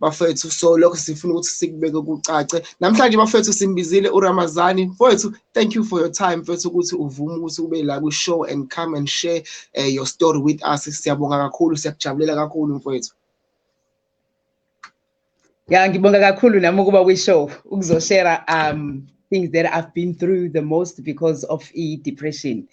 bafethu so lokho sifuna ukuthi sikubeke kucace namhlanje bafethu simbizile uRamazani mfowethu thank you for your time mfethu ukuthi uvume ukuthi ube la kwi-show and come and share uh, your story with us siyabonga kakhulu siyakujabulela kakhulu mfowethu ya ngibonga kakhulu nami ukuba kwi-show ukuzoshera um things that i've been through the most because of i-depression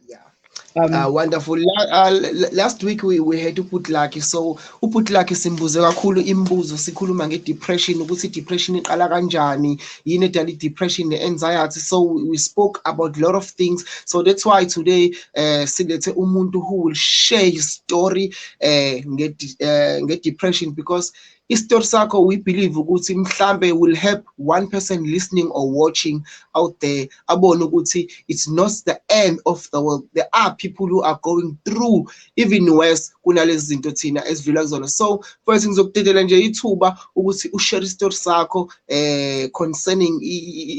yeah Um, uh, wonderful La, uh, last week we, we had uputlaki so uputlaki simbuze kakhulu imibuzo sikhuluma ngedepression ukuthi depression iqala kanjani yini edala depression ne-anxiety so we spoke about a lot of things so that's why today uh, silethe umuntu who will share his story uh, nge-depression uh, nge because istory sakho we believe ukuthi mhlambe will help one person listening or watching out there abone ukuthi it's not the end of the world there are people who are going through even worse kunalezi zinto thina esidlula kuzona so first ngizokudedela nje ithuba ukuthi ushare istory sakho eh concerning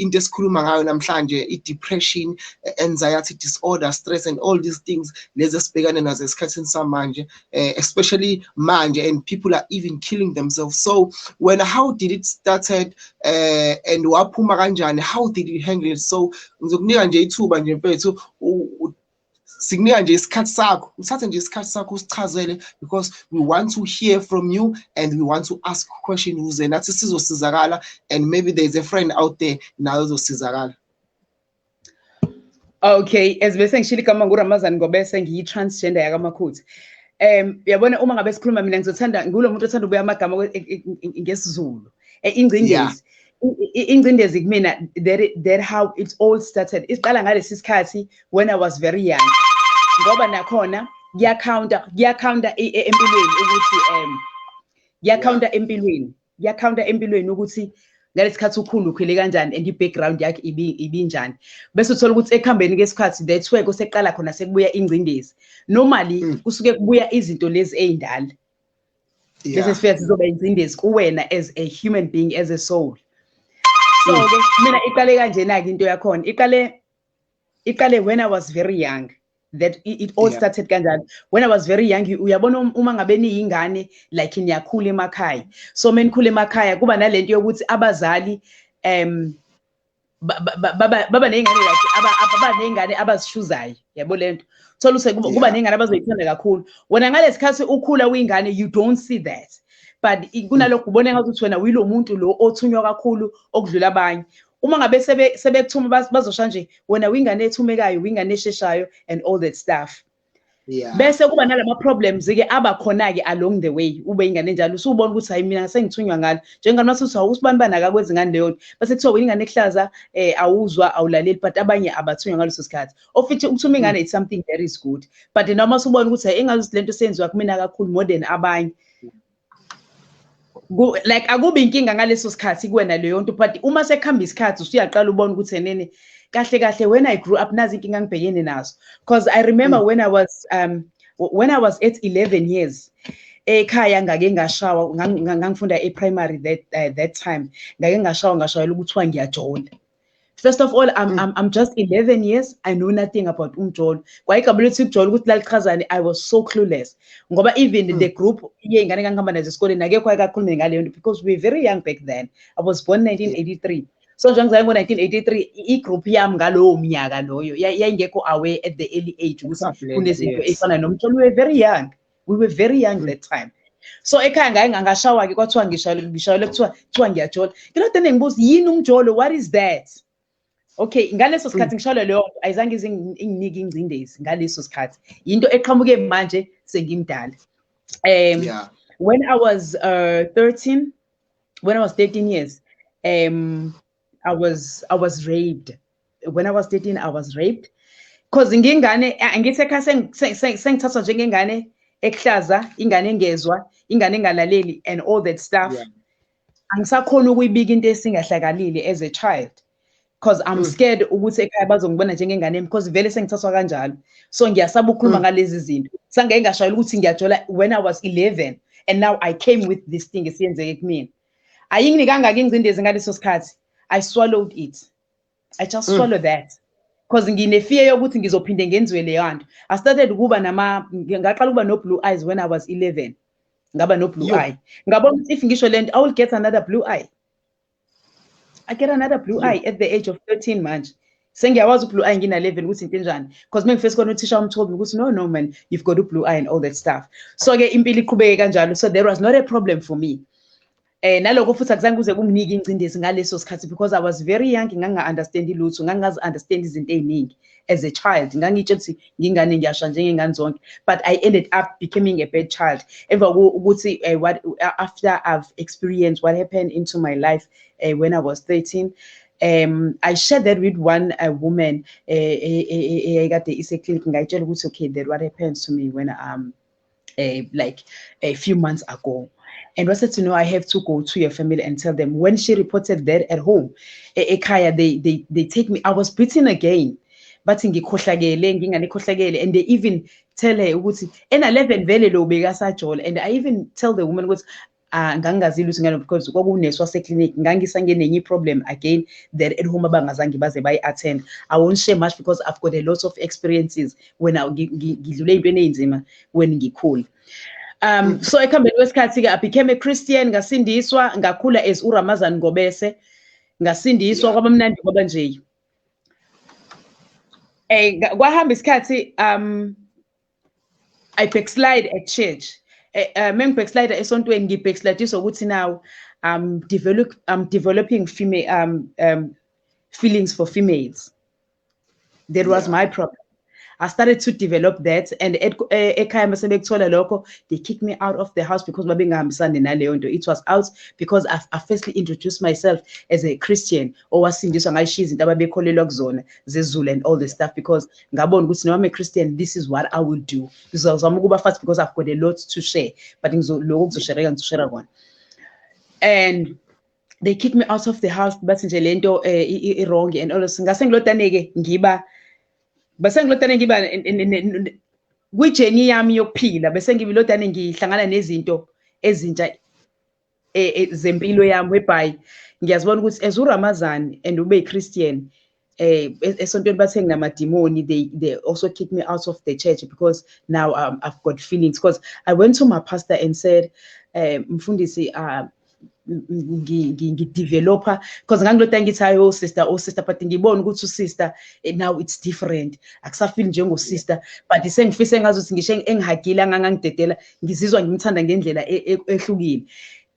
into esikhuluma ngayo namhlanje i-depression anxiety disorder stress and all these things lezi esibhekane nazo esikhathini samanje uh, especially manje and people are even killing themselves so when how did it started uh, and waphuma kanjani how did you handle it so ngizokunika nje ithuba nje mfethu sikunika nje isikhathi sakho uthathe nje isikhathi sakho usichazele because we want to hear from you and we want to ask question ukuze nathi sizosizakala and maybe there is a friend out there nayo uzosizakala Okay, as bese ngishilo igama nguRamazan Ngobese ngiyi-transgender yakaMakhuthi. Um yabona uma ngabe sikhuluma mina ngizothanda ngulo muntu othanda ubuya amagama e, e, e, ngesiZulu. Ingcindezi. Ingcindezi kumina that that how it all started. Isiqala ngalesi sikhathi when I was very young. Ngoba nakhona kuyakhawunta kuyakhawunta empilweni ukuthi um kuyakhawunta empilweni kuyakhawunta empilweni ukuthi ngalesikhathi ukhulu ukhwele kanjani and i-background yakhe ibinjani bese uthola ukuthi ekuhambeni kwesikhathi that's where kuseqala khona sekubuya ingcindezi normally hmm. kusuke kubuya izinto lezi ey'ndala bese sifika sizoba ingcindezi kuwena as a human being as a soul so-ke hmm. mina iqale kanjena-ke into yakhona iqale iqale when i was very young that it all yeah. started kanjalo when i was very young uyabona um, uma ngabe niyingane like niyakhula emakhaya so menikhula emakhaya kuba nalento yokuthi abazali um baba ney'ngane like baba ney'ngane abazishuzayo yabo le nto thola use kuba ney'ngane abazoyithanda kakhulu wena ngale sikhathi ukhula uyingane you don't see that but kunalokho ubona ngathi ukuthi wena uyilo muntu lo othunywa kakhulu okudlula abanye uma ngabe sebekuthuma bazosha nje wena wingane ethumekayo wingane esheshayo and all that stuff Yeah. bese kuba nalama problems ke aba khona ke along the way ube ingane njalo usubona ukuthi hayi mina sengithunywa ngalo njengani mase uthi usibani bani akakwenzi ngani leyo bese kuthiwa wena ingane ehlaza eh awuzwa awulaleli but abanye abathunywa ngaleso sikhathi ofithi ukuthuma ingane it's something that is good but noma usubona ukuthi hayi engazi lento senziwa kumina kakhulu more than abanye like akubi inkinga ngaleso sikhathi kuwena leyo nto but uma sekuhamba isikhathi usuyaqala ubona ukuthi enene kahle kahle when i grew up nazi inkinga ngibhekene nazo because i remember mm. when i was um when i was at 11 years ekhaya ngake ngashawa ngangifunda e-primary that uh, that time ngake ngashawa ngashayela ukuthiwa ngiyajola First of all, I'm, mm. I'm, I'm just 11 years. I know nothing about umjolo. Kwa igama lethu ukujolo ukuthi lalichazani, I was so clueless. Ngoba even mm. the group yey'ngane engangihamba nazo esikoleni akekho ayekakhulume ngaleyo nto because we were very young back then. I was born 1983. So njengoba ngo-1983 i-group yami ngalowo mnyaka loyo yayingekho aware at the early age ukuthi kunezinto ey'fana nomjolo. We were very young. we were very young that time so ekhaya ngaye ngangashawa-ke kwathiwa ngishayele ngishayele kuthiwa kuthiwa ngiyajola ngilode nengibuza yini umjolo what is that okay ngaleso sikhathi mm. ngishayele leyo nto ayizange ize inginike ingcindezi ngaleso sikhathi yinto eqhamuke manje sengimdala um yeah. when i was uh, 13 when i was 13 years um I was I was raped. When I was 13 I was raped. Cause ngingane angithi ekhaya sengithathwa njengengane ekuhlaza, ingane engezwa, ingane engalaleli and all that stuff. Yeah. Angisakhona ukuyibika into esingahlakalile as a child. Cause I'm mm. scared ukuthi ekhaya bazongibona njengengane because vele sengithathwa kanjalo. So ngiyasaba ukukhuluma mm. ngalezi zinto. Sange ngashayela ukuthi ngiyajola when I was 11 and now I came with this thing esiyenzeke kumina. ayinginikanga ke ingcindezi ngaleso sikhathi i swallowed it i just mm. swallow that because nginefear yokuthi ngizophinde ngenziwe leyo nto i started ukuba nama ngaqala ukuba no blue eyes when i was 11 ngaba no blue eye ngabona ukuthi if ngisho lento i will get another blue eye i get another blue eye at the age of 13 manje sengiyawazi ublue eye ngina-11 ukuthi into enjani because mengifesi khona uthisha umthobi ukuthi no no man you've got ublue eye and all that stuff so-ke impilo iqhubeke kanjalo so there was not a problem for me eh naloko futhi akuzange kuze kunginike ingcindezi ngaleso sikhathi because i was very young nganginga-understandi lutho ngangingazi-understandi izinto ey'ningi as a child ngangitshe ukuthi ngingane ngiyasha njengengane zonke but i ended up becoming a bad child emva ukuthi eh, what after i've experienced what happened into my life uh, when i was 13 um i shared that with one a woman eh, eh, eh, eyayikade iseclinic ngayitshela ukuthi okay that what happens to me when um uh, like a few months ago and was said to know I have to go to your family and tell them when she reported that at home ekhaya they they they take me I was beaten again bathi ngikhohlakele nginganikhohlakele and they even tell her ukuthi ena 11 vele lo bekasajola and I even tell the woman ukuthi Ah, ngangingazi lutho ngalo because kwakunesi waseclinic ngangisangene enye problem again that at home abangazange baze bayi-attend i won't share much because i've got a lot of experiences when ngidlule ey'ntweni ey'nzima when ngikhula um so ekuhambeni kwesikhathi-ke i became a christian ngasindiswa ngakhula as uramazan ngobese ngasindiswa yeah. kwabamnandi kwaba nje um kwahamba isikhathi um I backslide at church. Eh, eh, Meng backslide esontweni ngi backslide ukuthi now I'm develop I'm developing female um um feelings for females. That was yeah. my problem. I started to develop that and eh, ekhaya mase bekuthola lokho they kicked me out of the house because babengahambisani naleyo nto it was out because I, I firstly introduced myself as a Christian owasindiswa ngayishiya izinto ababekholelwa kuzona zezulu and all this stuff because ngabona ukuthi noma I'm a Christian this is what I will do ngizozama ukuba fast because I've got a lot to share but ngizoloko kuzoshereka ngizoshera kona and they kick me out of the house bathi nje lento eh, i wrong and all ngase ngilotane ke ngiba base ngilotane ngiba kwi journey yami yokuphila bese ngibilotane ngihlangana nezinto ezintsha eh, eh, zempilo yami whereby ngiyazibona ukuthi as uRamazan and ube Christian eh esontweni bathe nginamadimoni they they also kick me out of the church because now um, I've got feelings because I went to my pastor and said eh mfundisi uh ngideveloper because ngangilota ngithi hayi oh sister oh sister but ngibona ukuthi usister eh, now it's different akusafili njengosister but sengifisa engazi ukuthi ngisho engihagile angangangidedela ngizizwa ngimthanda ngendlela e, e, ehlukile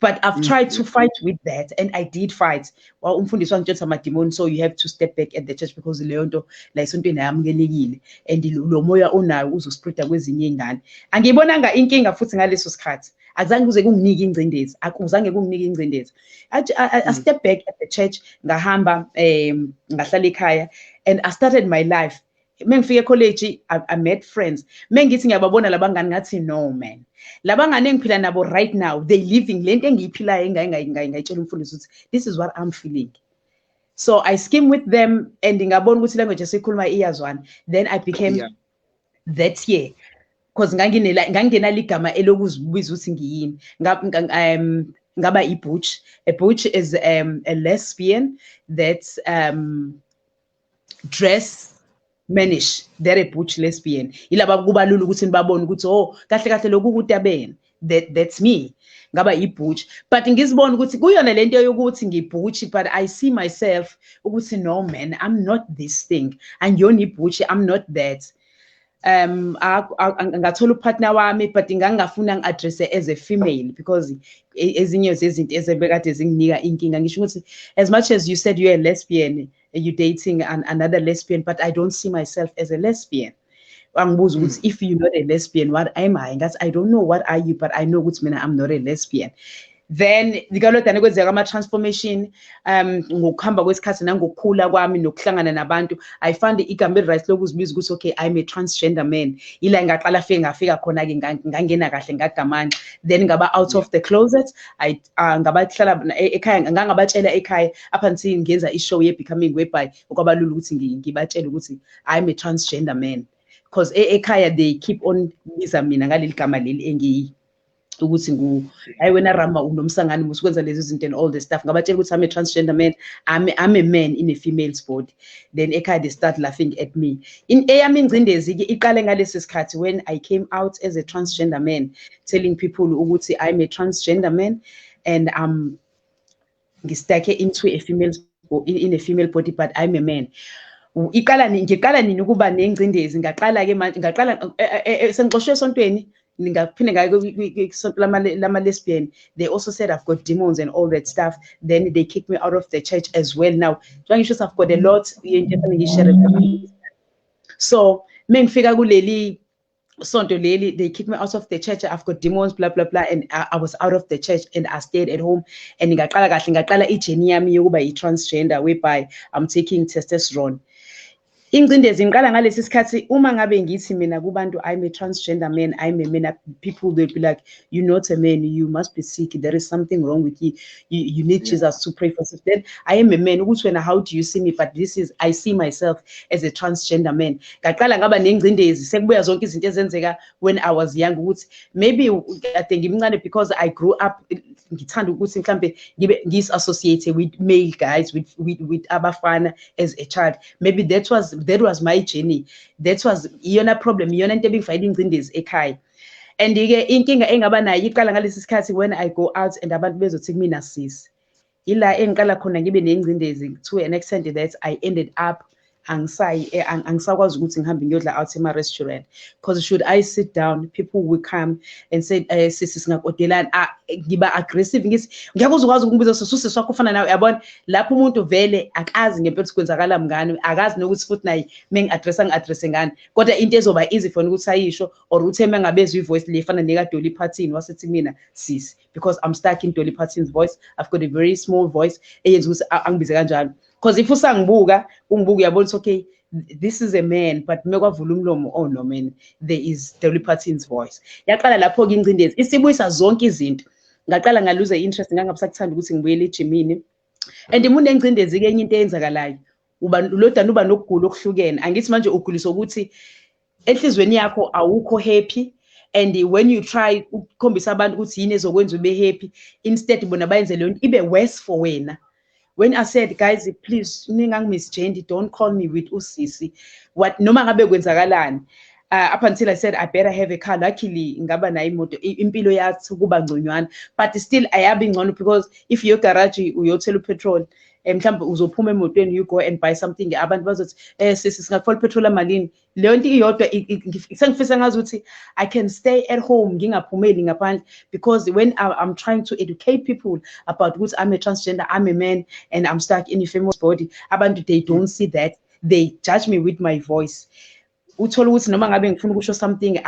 but i've mm. tried to fight with that and i did fight well umfundisi wangitshela amadimoni so you have to step back at the church because leyo nto la esontweni ayamukelekile and lo moya onayo uzospreada kwezinye iy'ngane angiyibonanga inkinga futhi ngaleso sikhathi akuzange kuze kunginike ingcindezi akuzange kunginike ingcindezi i mm. step back at the church ngahamba um ngahlala ekhaya and i started my life mengifika ecollege I, i met friends mengithi ngiyababona labangani ngathi no man labangani engiphila nabo right now they living lento engiyiphilayo engayingayitshela umfundisi ukuthi this is what i'm feeling so i scheme with them and ngabona ukuthi language esikhuluma iyazwana then i became yeah. that year because nganginela ngangingenalo igama elokuzibuza ukuthi ngiyini um ngaba ibutch a butch is um, a lesbian that um, dress manish they're a butch lesbian yilaba kubalula ukuthi nibabone ukuthi oh kahle kahle lokhu kutabeni that that's me ngaba ibutch but ngizibona ukuthi kuyona lento yokuthi ngibutch but i see myself ukuthi no man i'm not this thing angiyona ibutch i'm not that um ngathola upartner wami but ngangingafuna ngi-addresse as a female because e, ezinye zezinto ezebekade zinginika inkinga ngisho ukuthi as much as you said you're a lesbian you dating an, another lesbian but i don't see myself as a lesbian wangibuza ukuthi hmm. if you're not a lesbian what am i ngathi i don't know what are you but i know ukuthi mina i'm not a lesbian then likalodane kwenzeka ama-transformation um ngokuhamba kwesikhathi nangokukhula kwami nokuhlangana nabantu i found igama eli-right lokuzibiza ukuthi okay i'm a transgender man yila ngaqala fike ngafika khona-ke ngangena kahle ngagamanxa then ngaba out of the closet I, uh, ngabahlala e-, ekhaya ngangabatshela ekhaya up until ngenza i-show ye-becoming whereby okwabalula ukuthi ngibatshele ukuthi i'm a transgender man because e-, ekhaya they keep on biza mina ngaleli gama leli engiyi ukuthi ngu hayi wena rama unomsangani musikwenza lezi zinto and all the stuff ngabatshela ukuthi i'm a transgender man i'm, I'm a man in a female's body then ekhaya they start laughing at me in eyami ingcindezi ke iqale ngalesi sikhathi when i came out as a transgender man telling people ukuthi i'm a transgender man and i'm ngistake into a female in a female body but i'm a man iqala nini ngiqala nini ukuba nengcindezi ngaqala ke manje ngaqala eh, eh, eh, sengixoshwe esontweni ngingaphinde ngaye kwisonto lama-lesbian they also said i've got demons and all that stuff then they kicked me out of the church as well now njengoba ngisho i've got a lot into efanele ngiyishere so mengifika kuleli sonto leli they kicked me out of the church i've got demons blah blah blah and I, I was out of the church and i stayed at home and ngaqala kahle ngaqala ijeni yami yokuba yi-transgender whereby i'm taking testosterone ingcindezi ngiqala ngalesi sikhathi uma ngabe ngithi mina kubantu i'm a transgender man i'm a man people will be like you not a man you must be sick there is something wrong with you you, you need yeah. jesus to pray for yourself then i am a man ukuthi wena how do you see me but this is i see myself as a transgender man ngaqala ngaba nengcindezi sekubuya zonke izinto ezenzeka when i was young ukuthi maybe kade ngimncane because i grew up ngithanda ukuthi mhlambe ngibe ngis-associate with male guys with, with, with abafana as a child maybe that was that was my journey that was iyona problem iyona into ebingifanele ingcindezi ekhaya and ke inkinga engaba nayo iqala ngalesi sikhathi when i go out and abantu bezothi kumina sisi ila engiqala khona ngibe nengcindezi to an extent that i ended up angisayi eh, angisakwazi ukuthi ngihambe ngiyodla out ema-restaurant because should i sit down people will come and say um eh, sisi singakodelani ah, ngiba aggressive ngithi ngeke uzokwazi ukungibiza sisuse swakho ufana nawe yabona lapho umuntu vele akazi ngempela ukuthi kwenzakala mngani akazi nokuthi futhi naye mengi-addressa ngi-addresse ngani kodwa into ezoba easy for ukuthi ayisho or ukuthi ema ngabezwa ivoice le fana neka Dolly Parton wasethi mina sisi because I'm stuck in Dolly Parton's voice I've got a very small voice eyenza ukuthi angibize kanjalo because if usangibuka ungibuka uyabona okay this is a man but mekwavula umlomo oh no man there is Dolly Parton's voice yaqala lapho ke ingcindezi isibuyisa zonke izinto ngaqala ngaluze interest ngangabusakuthanda ukuthi ngibuyele ejimini and umuntu engcindezi ke enye into eyenzakalayo uba lodana uba nokugula okuhlukene angithi manje ugulisa ukuthi enhlizweni yakho awukho happy and when you try ukukhombisa abantu ukuthi yini ezokwenza ube happy instead bona bayenze leyo nto ibe worse for wena when i said guys please ningangimisjendi don't call me with usisi what noma ngabe kwenzakalani uh, up until i said i better have a car luckily ngaba nayo imoto impilo yathi kuba ngconywana but still ayabi ngcono because if your garage uyothela upetrol um mhlawumbe uzophuma emotweni you go and buy something abantu bazothi um sisi singakufona uphethola malini leyo nto iyodwa sengifisa ngazi ukuthi i can stay at home ngingaphumeli ngaphandle because when i'm trying to educate people about ukuthi i'm a transgender i'm a man and i'm stuck in a famous body abantu they don't see that they judge me with my voice uthole ukuthi noma ngabe ngifuna ukusho something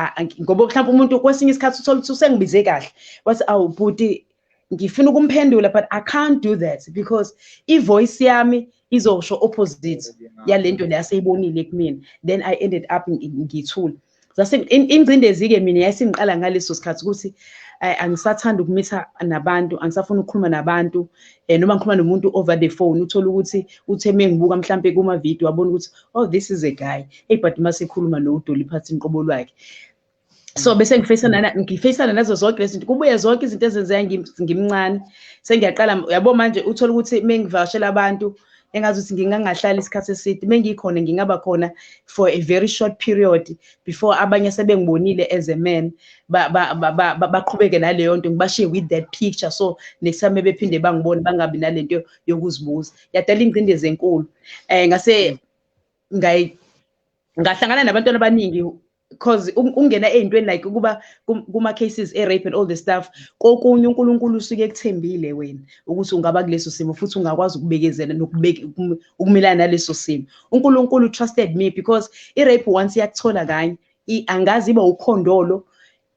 ngoba mhlawumbe umuntu kwesinye isikhathi uthole ukuthi usengibize kahle wathi awu bhuti ngifuna ukumphendula but i can't do that because ivoice yami izosho opposite yalento le aseyibonile kumina then i ended up ngithule zase ingcindezi ke mina yayisingiqala ngaleso sikhathi ukuthi Eh, angisathanda ukumitha nabantu angisafuni ukukhuluma nabantu um noma ngikhuluma nomuntu over the phone uthole ukuthi uthe mengibuka mhlampe kuma-video wabona ukuthi oh this is a guy hey but masekhuluma no udoli phansi inqobo lwakhe so mm. bese ngifacana na ngifacana nazo zonke lezi zinto kubuye zonke izinto ezenzeka ngimncane sengiyaqala yabo manje uthola ukuthi mengivashela abantu engazi ukuthi ngingangahlala isikhathi eside mengikhona ngingaba khona for a very short period before abanye sebengibonile as a man baqhubeke naleyo nto ngibashiye with that picture so next time bephinde bangibone bangabi nalento yokuzibuza yadala ingcindezi enkulu eh ngase ngayi ngahlangana nabantwana abaningi because ungena ezintweni like ukuba kuma cases e rape and all the stuff kokunye uNkulunkulu usuke ekuthembile wena ukuthi ungaba kuleso simo futhi ungakwazi ukubekezela nokubeka ukumelana naleso simo uNkulunkulu trusted me because i rape once yakuthola kanye angazi iba ukhondolo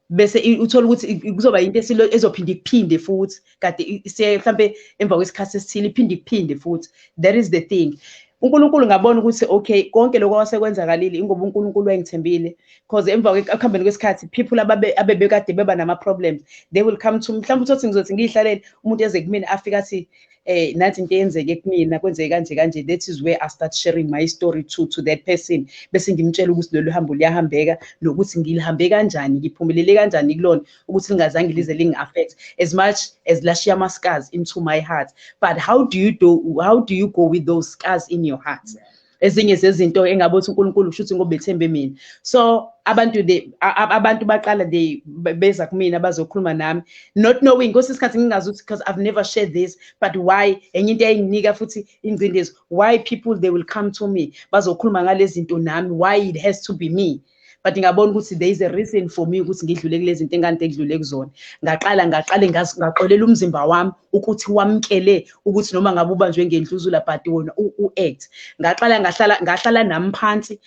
bese uthola ukuthi kuzoba into esilo ezophinde ikuphinde futhi kade siye mhlambe emva kwesikhathi esithile iphinde ikuphinde futhi that is the thing uNkulunkulu ngabona ukuthi okay konke lokho kwasekwenzakalile ingoba uNkulunkulu wayengithembile because emva kwekuhambeni kwesikhathi people ababe abebekade beba nama problems they will come to mhlawumbe uthi ngizothe ngiyihlalele umuntu eze kumina afika athi eh nathi into eyenzeke kumina kwenzeke kanje kanje that is where i start sharing my story to to that person bese ngimtshela ukuthi lolu hambo liyahambeka nokuthi ngilihambe kanjani ngiphumelele kanjani kulona ukuthi lingazange lize lingi-affect as much as lashiya ama-scars into my heart but how do you do how do you go with those scars in your heart yeah. ezinye zezinto engabe uthi uNkulunkulu kusho ukuthi ngoba ethembe mina so abantu they abantu baqala they beza kumina bazokhuluma nami not knowing kwesinye isikhathi ngingazi ukuthi because I've never shared this but why enye into eyinginika futhi ingcindezi why people they will come to me bazokhuluma ngalezinto nami why it has to be me but ngabona ukuthi there is a reason for me ukuthi ngidlule kulezi zinto engikade ngidlule kuzona ngaqala ngaqale ngaxolela umzimba wami ukuthi wamkele ukuthi noma ngabe ubanjwe ngendluzula but wona u-act ngaqala ngahlala ngahlala nami phansi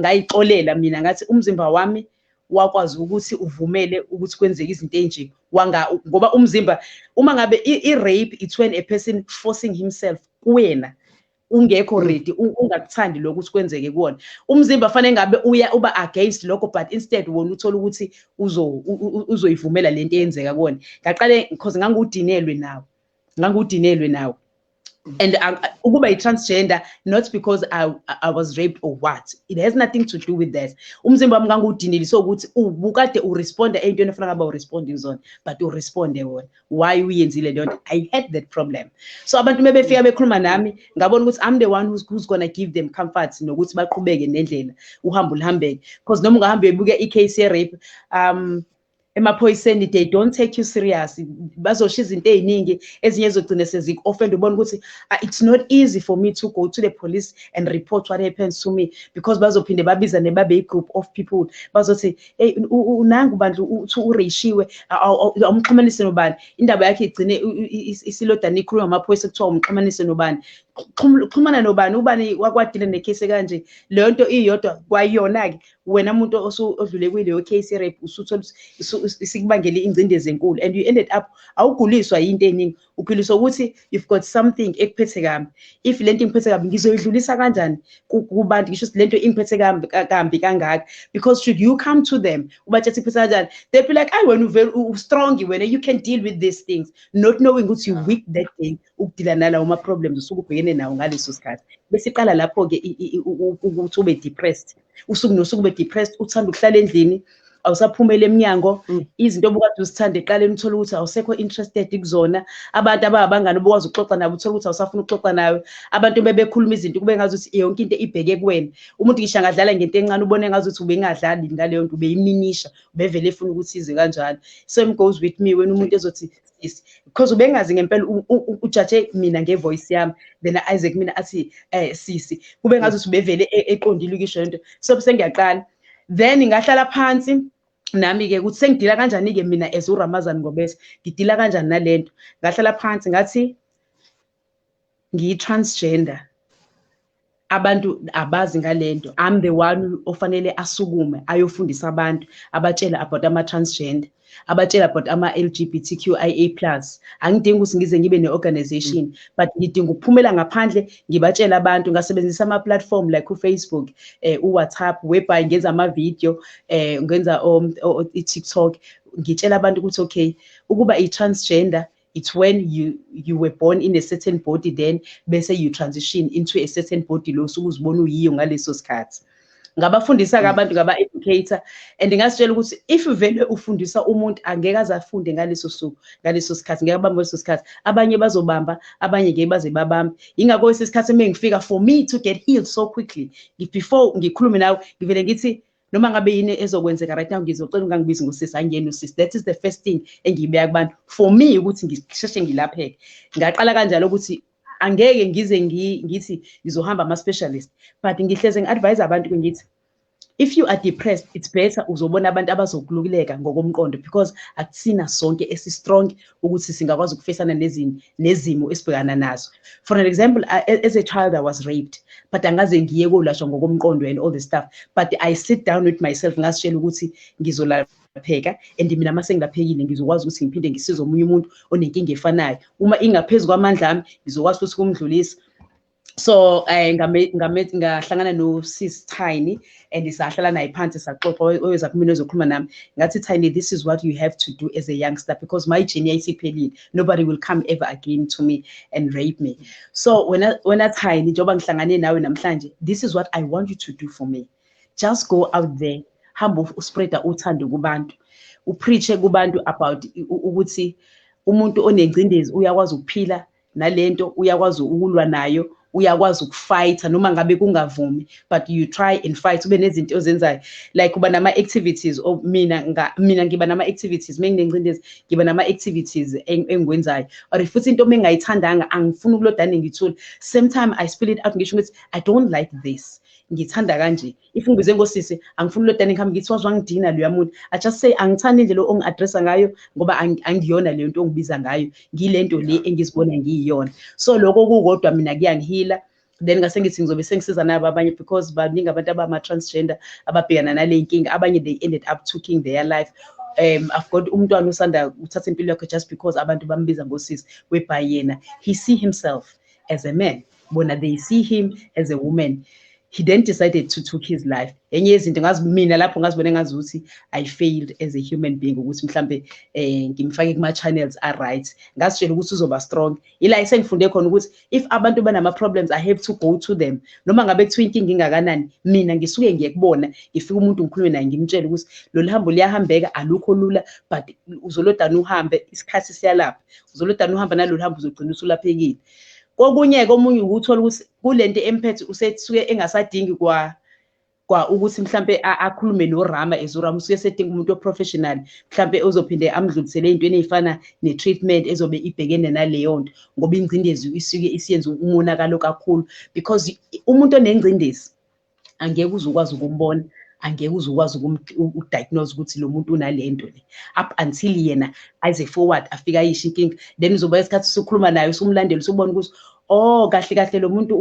ngayixolela mina ngathi umzimba wami wakwazi ukuthi uvumele ukuthi kwenzeke izinto enje wanga ngoba umzimba uma ngabe i-rape it's when a person forcing himself kuwena ungekho mm. ready ungakuthandi lokho ukuthi kwenzeke kuwona umzimba fanele ngabe uya uba against lokho but instead wona uthola ukuthi uzo uzoyivumela lento eyenzeka kuwona ngaqale because ngangudinelwe nawo ngangudinelwe nawo mm. and uh, ukuba i-transgender not because I, I was raped or what it has nothing to do with that umzimba wami ngangiwudinile so ukuthi ubukade uresponda eyintweni efana ngaba uresponde kuzona but uresponde wona why uyenzile leyo nto i had that problem so abantu uma befika bekhuluma nami ngabona ukuthi i'm the one who's, who's gonna give them comfort nokuthi baqhubeke nendlela uhambo luhambeke because noma ungahambe uyebuke i-case ye-rape um emaphoyiseni they don't take you serious bazosho izinto eziningi ezinye ezogcina seziku-offend ubona ukuthi ah, it's not easy for me to go to the police and report what happens to me because bazophinde babizane babe i-group of people bazothi hey unangu bandla uthi ureishiwe awumxhumanise nobani indaba yakhe igcine isilodana ikhuluma amaphoyisa kuthiwa umxhumanise nobani xhumana nobani ubani wakwadile nekhesi kanje leyo nto iyodwa kwayona-ke wena muntu odlule kuyileyo case rape usuthola isikubangele ingcindezi enkulu and you ended up awuguliswa yinto eningi uphiliswa ukuthi you've got something ekuphethe kambi if le nto ingiphethe kambi ngizoyidlulisa kanjani kubantu ngisho ukuthi le nto ingiphethe kambi kambi kangaka because should you come to them ubatshela ukuthi iphethe kanjani they be like ayi wena uvele u-strong wena you can deal with these things not knowing ukuthi you weak that day ukudila nalawo ma-problems usuke ubhekene nawo ngaleso sikhathi bese iqala lapho-ke ukuthi ube depressed usuku nosuku be depressed uthanda ukuhlala endlini awusaphumela eminyango mm. izinto obukade uzithanda eqaleni uthole ukuthi awusekho interested kuzona abantu abangabangani obukwazi ukuxoxa nabo uthole ukuthi awusafuna ukuxoxa nawe abantu bebekhuluma izinto kube ngazi ukuthi yonke into ibheke kuwena umuntu ngisho angadlala ngento encane ubone ngazi ukuthi ubengadlali ngaleyo nto ubeyiminisha ubevele efuna ukuthi ize kanjalo same goes with me wena umuntu ezothi sisi because ubengazi ngempela ujaje mina ngevoice yami then Isaac mina athi eh sisi kube ngazi usubevele e, eqondile ukisho lento so sengiyaqala then ngahlala phansi nami ke ukuthi sengidila kanjani ke mina as uRamazan Ngobese ngidila kanjani nalento ngahlala phansi ngathi ngiyi-transgender abantu abazi ngalento i'm the one ofanele asukume ayofundisa abantu abatshela about ama-transgender abatshela about ama-lgbtqia plus angidingi ukuthi ngize ngibe ne-organization mm. but ngidinga ukuphumela ngaphandle ngibatshela abantu ngasebenzisa ama-platform like ufacebook um eh, uwhatsapp whereby ngenza amavidiyo um eh, ngenza i-tiktok ngitshela abantu ukuthi okay ukuba i-transgender it's when you you were born in a certain body then bese you transition into a certain body lo usuke uzibona uyiyo ngaleso sikhathi ngabafundisa ke mm. abantu ngaba-educator and ngasitshela ukuthi if vele ufundisa umuntu angeke aze afunde ngaleso suku ngaleso sikhathi ngeke abambe leso sikhathi abanye bazobamba abanye ngeke baze babambe yingakho esi sikhathi uma ngifika for me to get healed so quickly before ngikhulume nawe ngivele ngithi noma ngabe yini ezokwenzeka right now ngizocela ungangibizi ngosisi angiyena usisi that is the first thing engiyibeka kubantu for me ukuthi ngisheshe ngilapheke ngaqala kanjalo ukuthi angeke ngize ngithi ngizohamba ama-specialist but ngihleze ngi-advise abantu ke ngithi if you are depressed it's better uzobona abantu abazokulukuleka ngokomqondo because akusina sonke esi-strong ukuthi singakwazi ukufesana nezini nezimo esibhekana nazo for an example e, as a child i was raped but angaze ngiye kolashwa ngokomqondo and all the stuff but i sit down with myself ngasitshela ukuthi ngizolala pheka and mina uma sengilaphekile ngizokwazi ukuthi ngiphinde ngisize omunye umuntu onenkinga efanayo uma ingaphezu kwamandla ami ngizokwazi futhi ukumdlulisa so eh ngame ngame ngahlangana no sis Tiny and isahlala naye phansi saxoxa oyeza kumina ozokhuluma nami ngathi Tiny this is what you have to do as a youngster because my journey isiphelile nobody will come ever again to me and rape me so when I, when I Tiny njoba ngihlangane nawe namhlanje this is what I want you to do for me just go out there hamba uspreada uthando kubantu upreache kubantu about ukuthi umuntu onengcindezi uyakwazi ukuphila nalento uyakwazi ukulwa nayo uyakwazi ukufayitha noma ngabe kungavumi but you try and fight ube nezinto ozenzayo like uba nama-activities or mina mina ngiba nama-activities uma nginengcindezi ngiba nama-activities engikwenzayo or futhi into uma engayithandanga angifuni ukulodane ngithule same time i spill it out ngisho ukuthi i don't like this ngithanda kanje if ngibize ngosisi angifuni lodani ngihambe ngithi waze wangidina loya muntu i just say angithandi indlela ongi-addressa ngayo ngoba angiyona leyo nto ongibiza ngayo ngile nto le engizibona ngiyiyona so lokho kukodwa mina kuyangihila then ngase ngithi ngizobe sengisiza nabo abanye because baningi abantu abama-transgender ababhekana nale nkinga abanye they ended up taking their life um i've got umntwana usanda uthatha impilo yakhe just because abantu bambiza ngosisi webhayi yena he see himself as a man bona they see him as a woman he then decided to took his life enye yezinto ngazi mina lapho ngazibone ngazi ukuthi i failed as a human being ukuthi mhlambe eh ngimfake kuma channels a right ngasitshela ukuthi uzoba strong ila isengifunde khona ukuthi if abantu banama problems i have to go to them noma ngabe kuthiwa inkinga ingakanani mina ngisuke ngiye kubona ngifika umuntu ngikhulume naye ngimtshele ukuthi lolu hambo liyahambeka alukho lula but uzolodana uhambe isikhathi siyalapha uzolodana uhamba nalolu hambo uzogcina usulaphekile kokunye-ke omunye ukuthola ukuthi kule nto emphethe usesuke engasadingi kwa kwa ukuthi mhlampe akhulume norama as urama usuke esedinga umuntu oprofessional mhlampe ozophinde amdlulisele ey'ntweni ey'fana ne-treatment ezobe ibhekene naleyo nto ngoba ingcindezi isuke isiyenza umonakalo kakhulu because umuntu onengcindezi angeke uze ukwazi ukumbona angeke uze ukwazi ukudiagnose ukuthi lo muntu unale nto le up until yena aze forward afike ayisho inkinga then uzoba isikhathi usukhuluma naye usumlandela usubona ukuthi oh kahle kahle lo muntu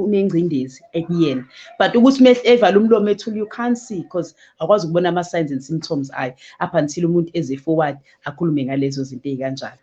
unengcindezi ekuyena but ukuthi uma evala umlomo ethule you can't see because akwazi ukubona ama-signs and symptoms ayo up until umuntu eze forward akhulume ngalezo zinto ey'kanjalo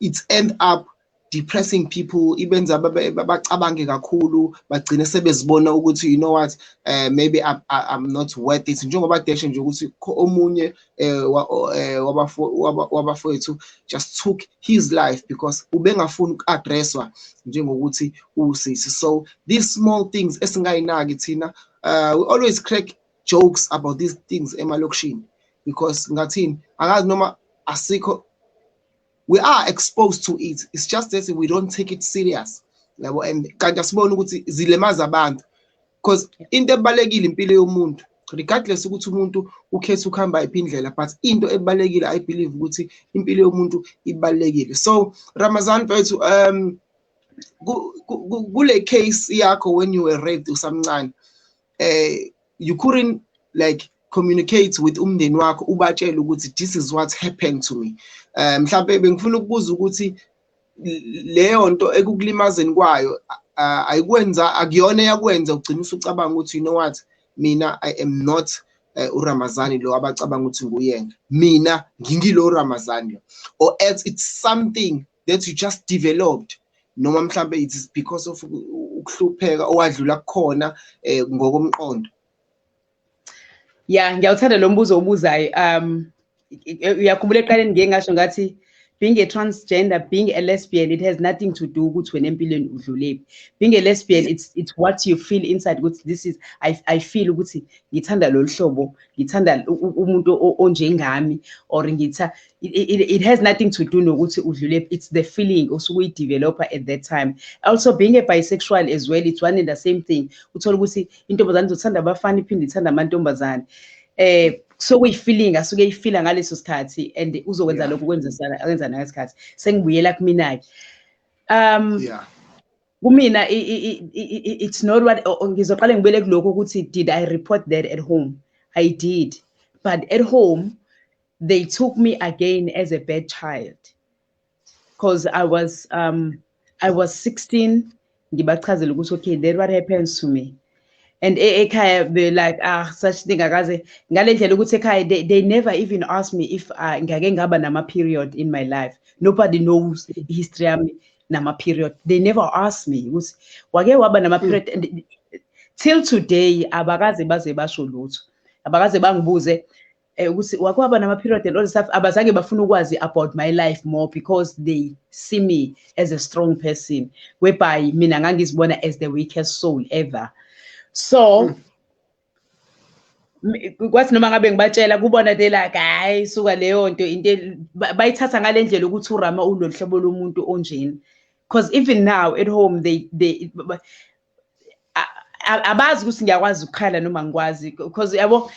it's end up depressing people ibenza bacabange kakhulu bagcine sebezibona ukuthi you know what uh, maybe I'm, I'm not worth it njengoba deshe nje ukuthi omunye eh, eh, wabafowethu just took his life because ubengafuni uku-addresswa njengokuthi usisi so these small things esingayinaki thina uh, we always crack jokes about these things emalokishini because ngathini akazi noma asikho we are exposed to it it's just that we don't take it serious yabo and kanti asibona ukuthi zilemaza abantu because into ebalekile impilo yomuntu regardless ukuthi umuntu ukhetha ukuhamba iphi indlela but into ebalekile i believe ukuthi impilo yomuntu ibalekile so Ramazan mfethu um kule case yakho when you were raped usamncane eh you couldn't like communicate with umndeni wakho ubatshele ukuthi this is what happened to me um mhlawumbe bengifuna ukubuza ukuthi leyo nto ekukulimazeni kwayo ayikwenza akuyona eyakwenza ugcina usucabanga ukuthi you know what mina i am not eh, uRamazani lo abacabanga ukuthi nguyena mina ngingilo uRamazani lo or else it's something that you just developed noma mhlambe it is because of ukuhlupheka owadlula kukhona eh, ngokomqondo ya ngiyawuthanda lo mbuzo obuzayo um uyakhumbula eqaleni ngike ngasho ngathi being a transgender being a lesbian it has nothing to do ukuthi wena empilweni udlulephi being a lesbian it's it's what you feel inside ukuthi this is i i feel ukuthi ngithanda lolu hlobo ngithanda umuntu onjengami or ngitha it, it, it has nothing to do nokuthi udlule it's the feeling osuke uyideveloper at that time also being a bisexual as well it's one and the same thing uthola ukuthi intombazane izothanda abafana iphinde ithanda amantombazane eh so kuyifeeling asuke eyifila ngaleso sikhathi and uzokwenza lokho kwenzisana akwenza nangesikhathi sengibuyela kumina ke um yeah kumina it's not what ngizoqale ngibele kuloko ukuthi did i report that at home i did but at home they took me again as a bad child because I was um, I was 16 ngibachazela ukuthi okay that what happens to me and e, ekhaya be like ah such thing akaze ngale ndlela ukuthi ekhaya they, they never even asked me if uh, ngake ngaba nama period in my life nobody knows the history yami nama period they never asked me ukuthi wake waba nama hmm. period and till today abakaze baze basho lutho abakaze bangibuze eh ukuthi wake waba nama period and all stuff abazange bafuna ukwazi about my life more because they see me as a strong person whereby mina ngangizibona as the weakest soul ever so mm. kwathi noma ngabe ngibatshela kubona they like hayi suka leyo nto into bayithatha ngalendlela ukuthi urama ulolu hlobo lomuntu onjeni because even now at home they they abazi ukuthi ngiyakwazi ukukhala noma ngikwazi because yabo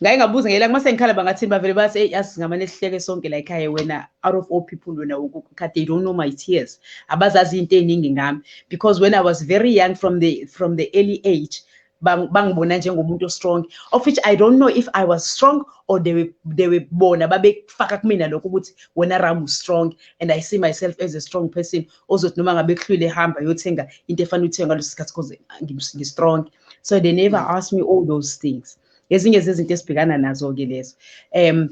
ngaye ngabuza ngela uma sengikhala bangathini bavele bathi eyi yazi singamane sihleke sonke la ekhaya wena out of all people wena ukukhathi they don't know my tears abazazi into eningi ngami because when i was very young from the from the early age bangibona njengomuntu ostrong of which i don't know if i was strong or they were, they were bona babekufaka kumina lokho ukuthi wena ram strong and i see myself as a strong person ozothi noma ngabe kuhlwile ehamba yothenga into efanele uthenge ngaleso sikhathi because ngi-strong so they never mm. ask me all those things ezinye zezinto esibhekana nazo-ke lezo um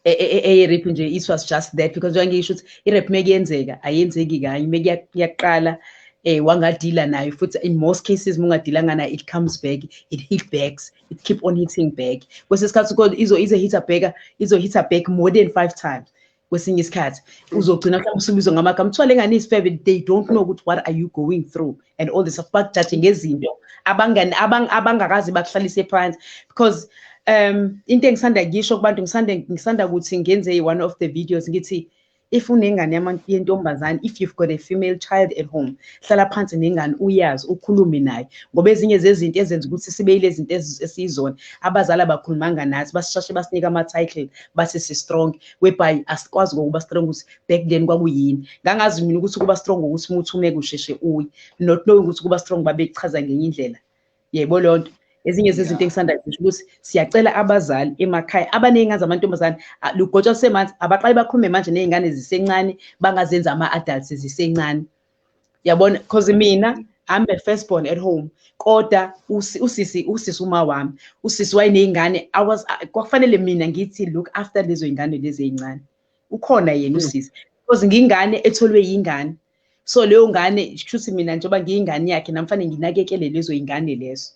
eyerep nje it was just that because njengoba ngisho ukuthi irep mekuyenzeka ayenzeki kanye mekuyaqala eh wangadila nayo futhi in most cases mungadilanga nayo it comes back it hit backs it keep on hitting back kwesinye isikhathi kodwa izo ize hitter back izo hitter back more than five times kwesinye isikhathi uzogcina mhlawumbe usubizwa ngamagama kuthiwa le ngane isifebe they don't know ukuthi what are you going through and all this bakujaje ngezinto abangani abangakazi bakuhlalise phansi because um into engisanda ngisho kubantu ngisanda ngisanda ukuthi ngenze one of the videos ngithi if unengane yentombazane if you've got a female child at home hlala phansi nengane uyazi ukhulume naye ngoba ezinye zezinto ezenza ukuthi sibe yile zinto esiyizona abazali abakhulumanga nathi basishashe basinika ama-title bathi si-strong webhayi asikwazi kokuba strong ukuthi back then kwakuyini ngangazi mina ukuthi kuba strong ukuthi umuthi umeke usheshe uyi not knowing ukuthi kuba strong babekuchaza ngenye indlela yebo leyo nto ezinye zezinto engisanda kusho ukuthi siyacela abazali emakhaya abaney'ngane zamantombazane lugotshwa lusemanzi abaqali bakhulume manje ney'ngane zisencane bangazenza ama-adults zisencane yabona because mina I'm a first born at home kodwa usisi usisi uma wami usisi wayenezingane I was kwakufanele mina ngithi look after lezo zingane lezi ezincane ukhona yena hmm. usisi because ngingane etholwe yingane so leyo ngane kushuthi mina njengoba ngiyingane yakhe namfane nginakekele lezo zingane lezo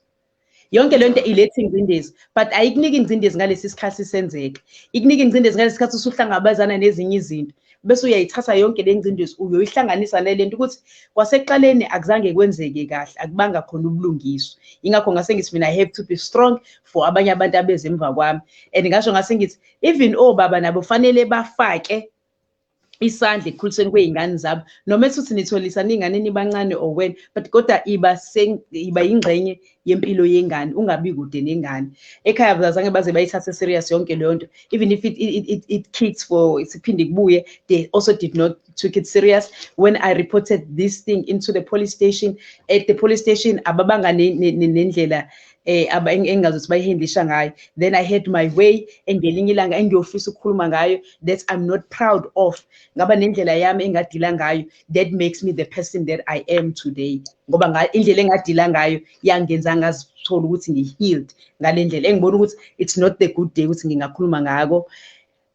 yonke le nto iletha ingcindezi but ayikuniki ingcindezi ngalesi sikhathi senzeka ikunika ingcindezi ngalesi sikhathi usuhlangabezana nezinye izinto bese uyayithatha yonke le ngcindezi uyoyihlanganisa nale nto ukuthi kwasekuqaleni akuzange kwenzeke kahle akubanga khona ubulungiswa ingakho ngase ngithi mina i have to be strong for abanye abantu abeze emva kwami and ngasho ngase ngithi even obaba nabo fanele bafake isandla ekukhulisweni kwey'ngane zabo noma esuthi nitholisa niy'ngane nibancane or wena but kodwa iba iba yingxenye yempilo yengane ungabi kude nengane ekhaya bazange baze bayithathe serious yonke leyo nto even if it, it, it, it kicks for siphinde kubuye they also did not took it serious when i reported this thing into the police station at the police station ababanga nendlela eh aba engazi ukuthi bayihendisha ngayo then i had my way engelinye ilanga engiyofisa ukukhuluma ngayo that i'm not proud of ngaba nendlela yami engadila ngayo that makes me the person that i am today ngoba indlela engadila ngayo yangenza ngazithola ukuthi ngihealed ngale ndlela engibona ukuthi it's not the good day ukuthi ngingakhuluma ngako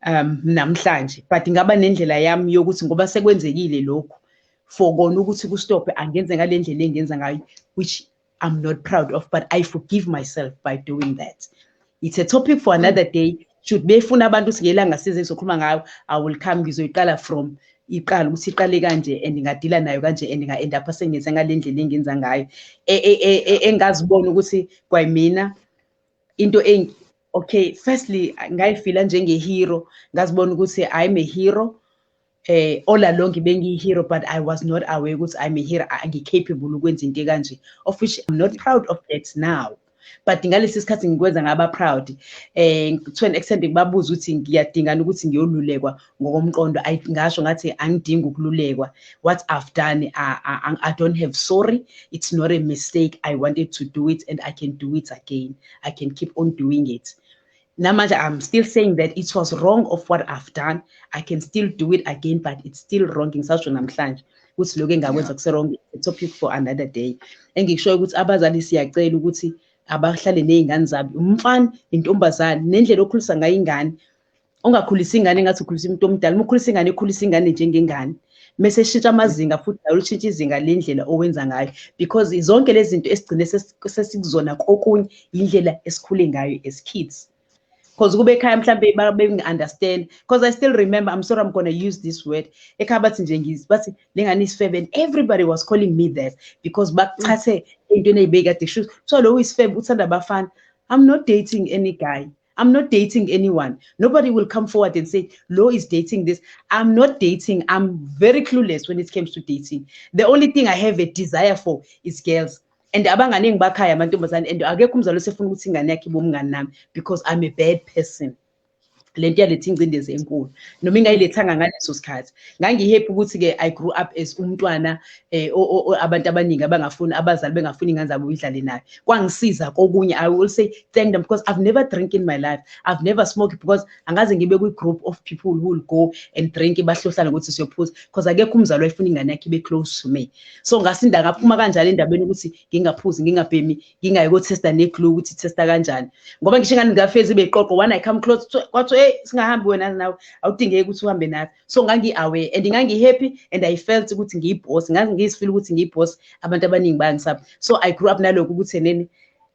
um namhlanje but ngaba nendlela yami yokuthi ngoba sekwenzekile lokhu for kona ukuthi kustophe angenze ngale ndlela engenza ngayo which I'm not proud of, but I forgive myself by doing that. It's a topic for another mm. day. Should befuna abantu singelanga size sokhuluma ngayo, I will come ngizoyiqala from iqala ukuthi iqale kanje and ngingadila nayo kanje and nga end up sengenza ngalendlela engenza ngayo e, e, e, engazibona ukuthi kwayimina into engi okay firstly ngayifila njenge hero ngazibona ukuthi i'm a hero eh all along bengiyi hero but i was not aware ukuthi i'm a hero angicapable ukwenza into kanje of which i'm not proud of that now but ngalesi sikhathi ngikwenza ngaba proud eh to an extent ngibabuza ukuthi ngiyadingana ukuthi ngiyolulekwa ngokomqondo i ngasho ngathi angidingi ukululekwa what i've done I, I, i don't have sorry it's not a mistake i wanted to do it and i can do it again i can keep on doing it namanje i'm still saying that it was wrong of what i've done i can still do it again but it's still wrong ngisasho namhlanje ukuthi lokho engakwenza kuserong a topic for another day engikushoyo ukuthi abazali siyacela ukuthi abahlale nezingane zabo umfana intombazane nendlela okhulisa ngayo ingane ungakhulisa ingane ngathi ukhulisa umuntu omdala uma ukhulisa ingane ekhulisa ingane njengengane mese shintsha amazinga futhi nawe ushintsha izinga lendlela owenza ngayo because zonke lezi zinto esigcine sesikuzona kokunye indlela esikhule ngayo as kids because kube ekhaya mhlambe bekungi-understand because i still remember i'm sorry i'm gonna use this word ekhaya bathi nje ngizi bathi le ngane isifebe and everybody was calling me that because bakuchathe entweni eyibekade shoes so lo uyisifebe uthanda abafana i'm not dating any guy I'm not dating anyone. Nobody will come forward and say, Lo is dating this. I'm not dating. I'm very clueless when it comes to dating. The only thing I have a desire for is girls. And abangane ngibakhaya amantombazane and akekho umzali osefuna ukuthi ingane yakhe bomngane nami because I'm a bad person. Le nto yaletha ingcindezi enkulu. Noma ingayilethanga ngaleso sikhathi. ngangihappy ukuthi-ke i grew up as umntwana um abantu abaningi abangafuni abazali bengafuni ingane zabo idlale nayo kwangisiza kokunye i will say thank them because i've never drink in my life i've never smoked because angaze ngibe kwi-group of people who will go and drink bahlohlane ukuthi siyophuza because akekho umzali wayefuna ingane yakhe ibe close to me so ngasinda ngaphuma kanjalo endabeni ukuthi ngingaphuzi ngingabhemi ngingayi ko-testa ne-glue ukuthi testa kanjani ngoba ngisho ingane ngafezi beqoqo one i come close kwathiwa eyi singahambi wena nawe awudingeki ukuthi uhambe nathi so ngangi-aware and ngangi-happy and i felt ukuthi ngiyibhosi ngangizifila ukuthi ngiyibhosi abantu abaningi bayangisaba so i grew up nalokho ukuthi enene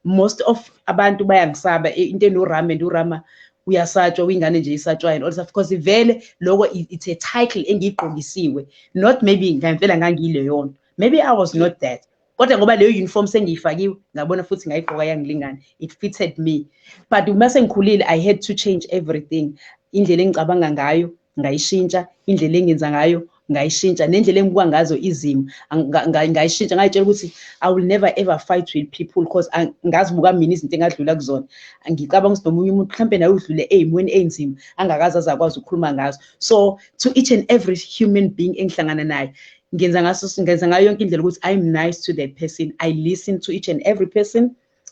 most of abantu bayangisaba into enorama and urama uyasatshwa uyingane nje isatshwayo and all stuff because vele loko it's a title engiyigqokisiwe not maybe ngempela ngangiyileyona maybe i was not that kodwa ngoba leyo uniform sengiyifakiwe ngabona futhi ngayigqoka yangilingana it fitted me but uma sengikhulile i had to change everything indlela engicabanga ngayo ngayishintsha indlela engenza ngayo ngayishintsha nendlela engibuka ngazo izimo ngayishintsha ngayitshela ukuthi i will never ever fight with people because ngazibuka mina izinto engadlula kuzona ngicabanga ukuthi nomunye umuntu mhlawumbe naye udlule ey'mweni ey'nzima angakaze aze akwazi ukukhuluma ngazo so to each and every human being engihlangana naye ngenza ngaso ngenza ngayo yonke indlela ukuthi i'm nice to that person i listen to each and every person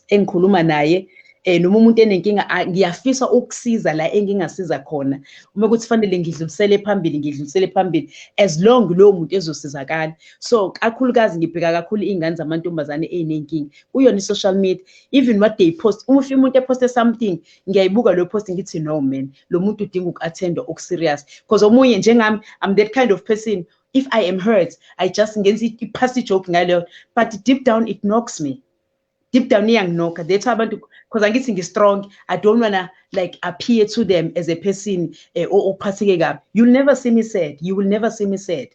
engikhuluma naye eh noma umuntu enenkinga ngiyafisa ukusiza la engingasiza khona uma kuthi fanele ngidlulisele phambili ngidlulisele phambili as long lowo muntu ezosizakala so kakhulukazi ngibheka kakhulu iy'ngane zamantombazane ey'nenkinga kuyona i-social media even what they post uma ufika umuntu eposte something ngiyayibuka leyo post ngithi no man lo muntu udinga uku-attendwa oku-serious because omunye njengami i'm that kind of person if i am hurt i just ngenza i-passy joke ngaleyo but deep down it knocks me deep down iyanginokha that's why abantu because angithi ngi-strong i don't wanna like appear to them as a person eh, ophatheke kabi you'll never see me sad you will never see me sad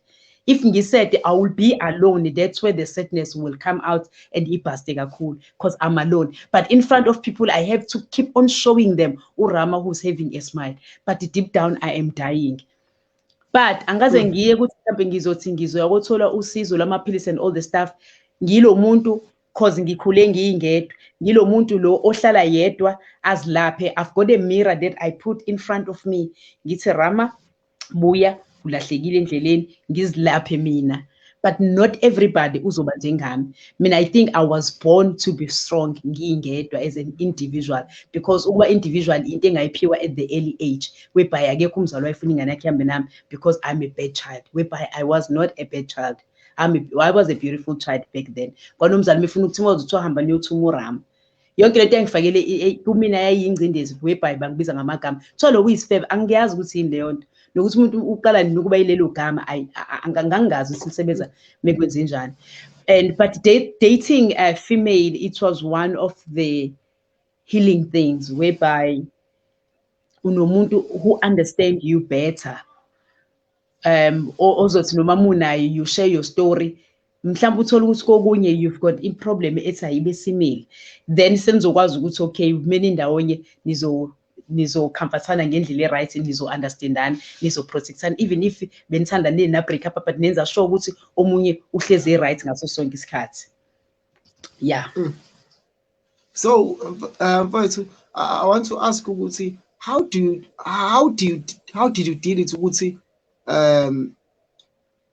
if ngisede i will be alone that's where the sadness will come out and ibhaste kakhulu because i'm alone but in front of people i have to keep on showing them urama who's having a smile but deep down i am dying but angikaze mm. ngiye ukuthi mhlawumbe ngizothi ngizoya kothola usizo lwamaphilisi and all the stuff ngilo muntu cause ngikhule ngiyingedwa ngilo muntu lo ohlala yedwa azilaphe i've got a mirror that i put in front of me ngithi rama buya ulahlekile endleleni ngizilaphe mina but not everybody uzoba njengami mina i think i was born to be strong ngingedwa as an individual because ukuba individual into engayiphiwa at the early age whereby akekho umzali wayefuna ingane yakhe ihambe nami because i'm a bad child whereby i was not a bad child I'm a, I was a beautiful child back then kwanomzali mifuna ukuthi mawuze kuthiwa hamba niyothuma urama yonke lento engifakele kumina yayiyingcindezi webhayi bangibiza ngamagama kuthiwa lo kuyisifebe angiyazi ukuthi yini leyo nto nokuthi umuntu uqala nini ukuba yilelo gama angangazi ukuthi lisebenza mekwenze njani and but dating a female it was one of the healing things whereby unomuntu who understand you better um ozothi noma munayo you share your story mhlawumbe uthole ukuthi kokunye you've got iproblem ethi ayibe simile then senizokwazi ukuthi okay kumele indawonye nizo nizokhamfathana ngendlela e-right nizo-understandana nizo-protectana even if benithanda nini na-break up but nenza sure ukuthi omunye uhlezi e-right ngaso sonke isikhathi ya mm. so uh, mfowethu uh, i want to ask ukuthi how do you, how do you, how did you deal it ukuthi um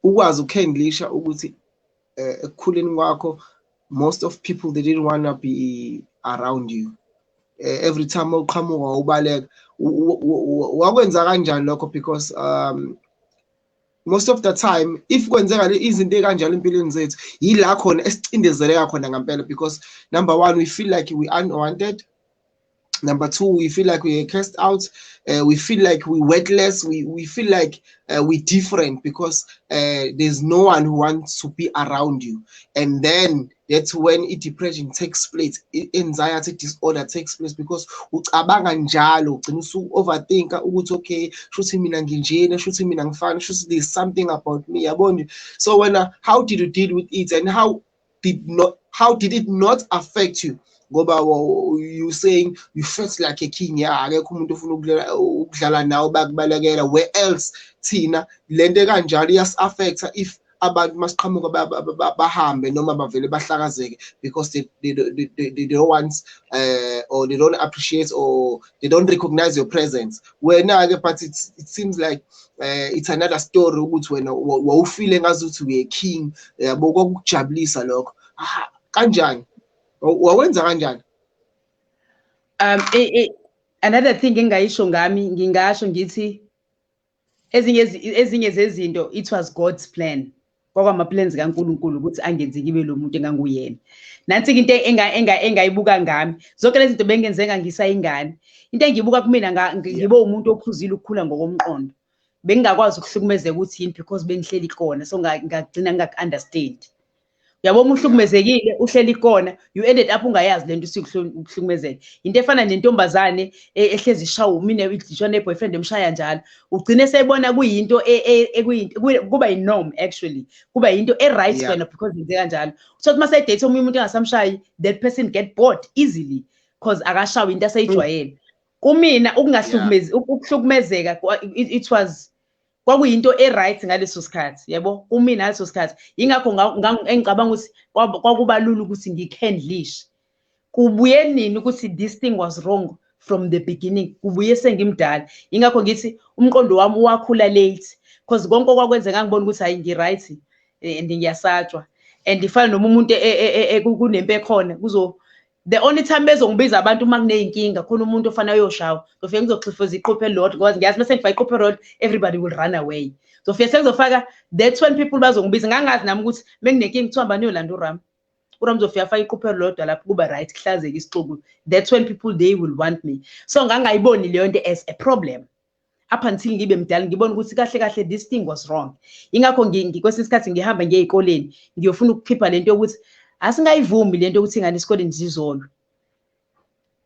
ukwazi ukukhandlisha ukuthi eh, ekukhuleni kwakho most of people they didn't want to be around you uh, every time uqhamuka ubaleka wakwenza kanjani lokho because um most of the time if kwenzeka izinto ekanjalo empilweni zethu yila khona esicindezeleka khona ngempela because number one we feel like we unwanted number two we feel like we are cast out uh, we feel like we worthless we, we feel like uh, we different because uh, there's no one who wants to be around you and then that's when i-depression takes place i-anxiety disorder takes place because ucabanga njalo ugcina usu-overthinka ukuthi okay shuthi mina nginjena shuthi mina ngifana shuthi there's something about me yabo nje so wena how did you deal with it and how did not how did it not affect you ngoba you saying you felt like a king ya akekho umuntu ofuna ukudlala nawe bakubalekela where else thina lento kanjalo iyasi-affecta if abantu masiqhamuka bahambe noma bavele bahlakazeke because they, they, they, they, they don't want uh, or they don't appreciate or they don't recognize your presence wena-ke but it, it seems like uh, it's another story ukuthi wena wawufile ngazi ukuthi uye king yabo uh, kwakukujabulisa lokho ah, kanjani wawenza kanjani um another thing engayisho ngami ngingasho ngithi ezinye ezinye zezinto it was God's plan kwakwama plans kaNkuluNkulu ukuthi angenze ngibe lo muntu enganguyena nansi into enga enga engayibuka ngami zonke lezi zinto bengenzenga ngisayingane into engiyibuka kumina ngibe umuntu ophuzile ukukhula ngokomqondo bengingakwazi ukuhlukumezeka ukuthi yini because bengihleli khona so ngagcina ngingaku-understand yabo uma uhlukumezekile uhleli kona you ended up ungayazi lento usikuhlukumezeke into efana nentombazane e, ehlezi ishawa umine idlishwa ne-boyfriend emshaya njalo ugcine sebona kuyinto e, e, kuba yi-norm actually kuba yinto e-right wena because yenze kanjalo so uma sedate omunye umuntu engasamshayi that person get bored easily because akashawa into aseyijwayele kumina ukungahlukumezi ukuhlukumezeka it was kwakuyinto e-right ngaleso sikhathi yebo umina ngaleso sikhathi yingakho engicabanga ukuthi kwakuba lula ukuthi ngi-candlish kubuye nini ukuthi this thing was wrong from the beginning kubuye sengimdala yingakho ngithi umqondo wami wakhula late because konke okwakwenzeka ngibona ukuthi hayi ngi-right eh, and ngiyasatshwa and ifana noma umuntu e, e, e, kunempe khona kuzo the only time bezongibiza abantu uma kuneyinkinga khona umuntu ofana uyoshawa ngizofike ngizoxhifoza iquphe elilodwa because ngiyazi bese ngifaka iquphe elilodwa everybody will run away ngizofike sengizofaka that's when people bazongibiza ngangazi nami ukuthi menginenkinga kuthiwa mbani uyolanda uram uram uzofika afake iquphe elilodwa lapho kuba right kuhlazeke isixuku that's when people they will want me so ngangayiboni leyo nto as a problem up until ngibe mdala ngibona ukuthi kahle kahle this thing was wrong ingakho kwesinye isikhathi ngihamba ngiye ezikoleni ngiyofuna ukukhipha lento yokuthi asingayivumi lento ukuthi ingane esikoleni zizolwe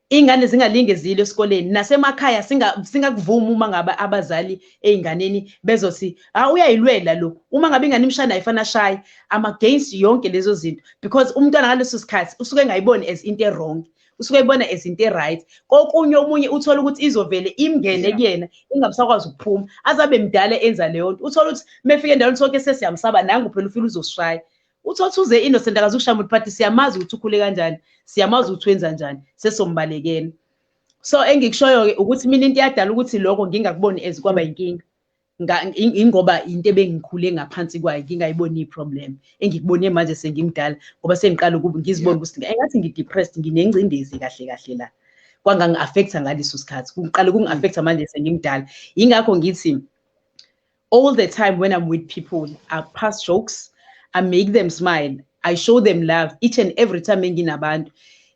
ingane zingalinge zile esikoleni nasemakhaya singakuvuma uma ngabe abazali ezinganeni bezothi ah uyayilwela lo uma ngabe ingane imshana ayifana shayi ama against yonke lezo zinto because umntwana ngaleso sikhathi usuke engayiboni as into errong usuke ibona as into e-right kokunye omunye uthole ukuthi izovele imngene kuyena ingamsakwazi ukuphuma azabe mdala enza leyo nto uthole ukuthi mefike endaweni sonke sesiyamsaba nangu phela ufile uzosishaya uthothi uze innocent akazi ukushaya umuntu phathi siyamazi ukuthi ukhule kanjani siyamazi ukuthi wenza njani sesombalekela so engikushoyo-ke ukuthi mina into yadala ukuthi lokho ngingakuboni as kwaba yinkinga ingoba into ebengikhule ngaphansi kwayo ngingayiboni iproblem engikubone manje sengimdala ngoba sengiqala ukuba ngizibone ukuthi engathi ngidepressed nginengcindezi kahle kahle la kwangangi-affecta ngaleso sikhathi kuqale kungi-affecta manje sengimdala yingakho ngithi all the time when i'm with people i pass jokes i make them smile i show them love each and every time enginabantu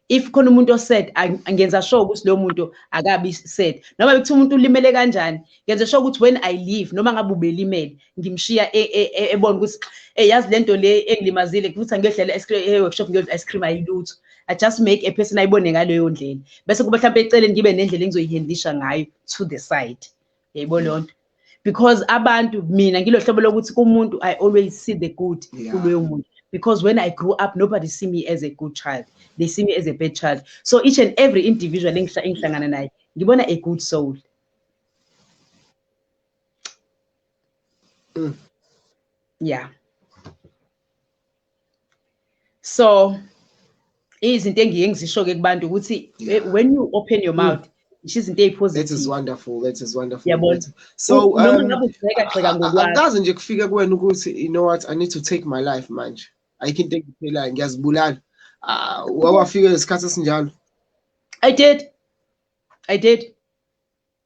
if khona umuntu oset ngenza sure ukuthi loyo muntu akabi set noma bekuthi umuntu ulimele kanjani ngenza sure ukuthi when i leave noma ngabe ubelimele ngimshiya e, e, e, ebona ukuthi eh yazi lento le engilimazile kuthi ngiyodlela ice cream eh workshop ngiyodla ice cream ayilutho i just make a person ayibone ngaleyo ndlela bese kuba mhlawumbe eceleni ngibe nendlela engizoyihandlisha ngayo to the side yayibona leyo nto because abantu mina ngilohlobo lokuthi kumuntu i always see the good kuloyo muntu because when i grew up nobody see me as a good child they see me as a bad child so each and every individual engihlangana naye ngibona a good soul mm. yeah so izinto engiye ngizisho ke kubantu ukuthi eh, when you open your mouth ngisho izinto ezipositive that is wonderful that is wonderful yabona so noma um, ngabe ugxeka gxeka ngokwakho akaze nje kufike kuwena ukuthi you know what i need to take my life manje ayikho into engiphelayo ngiyazibulala ah, wawafika isikhathi esinjalo i did i did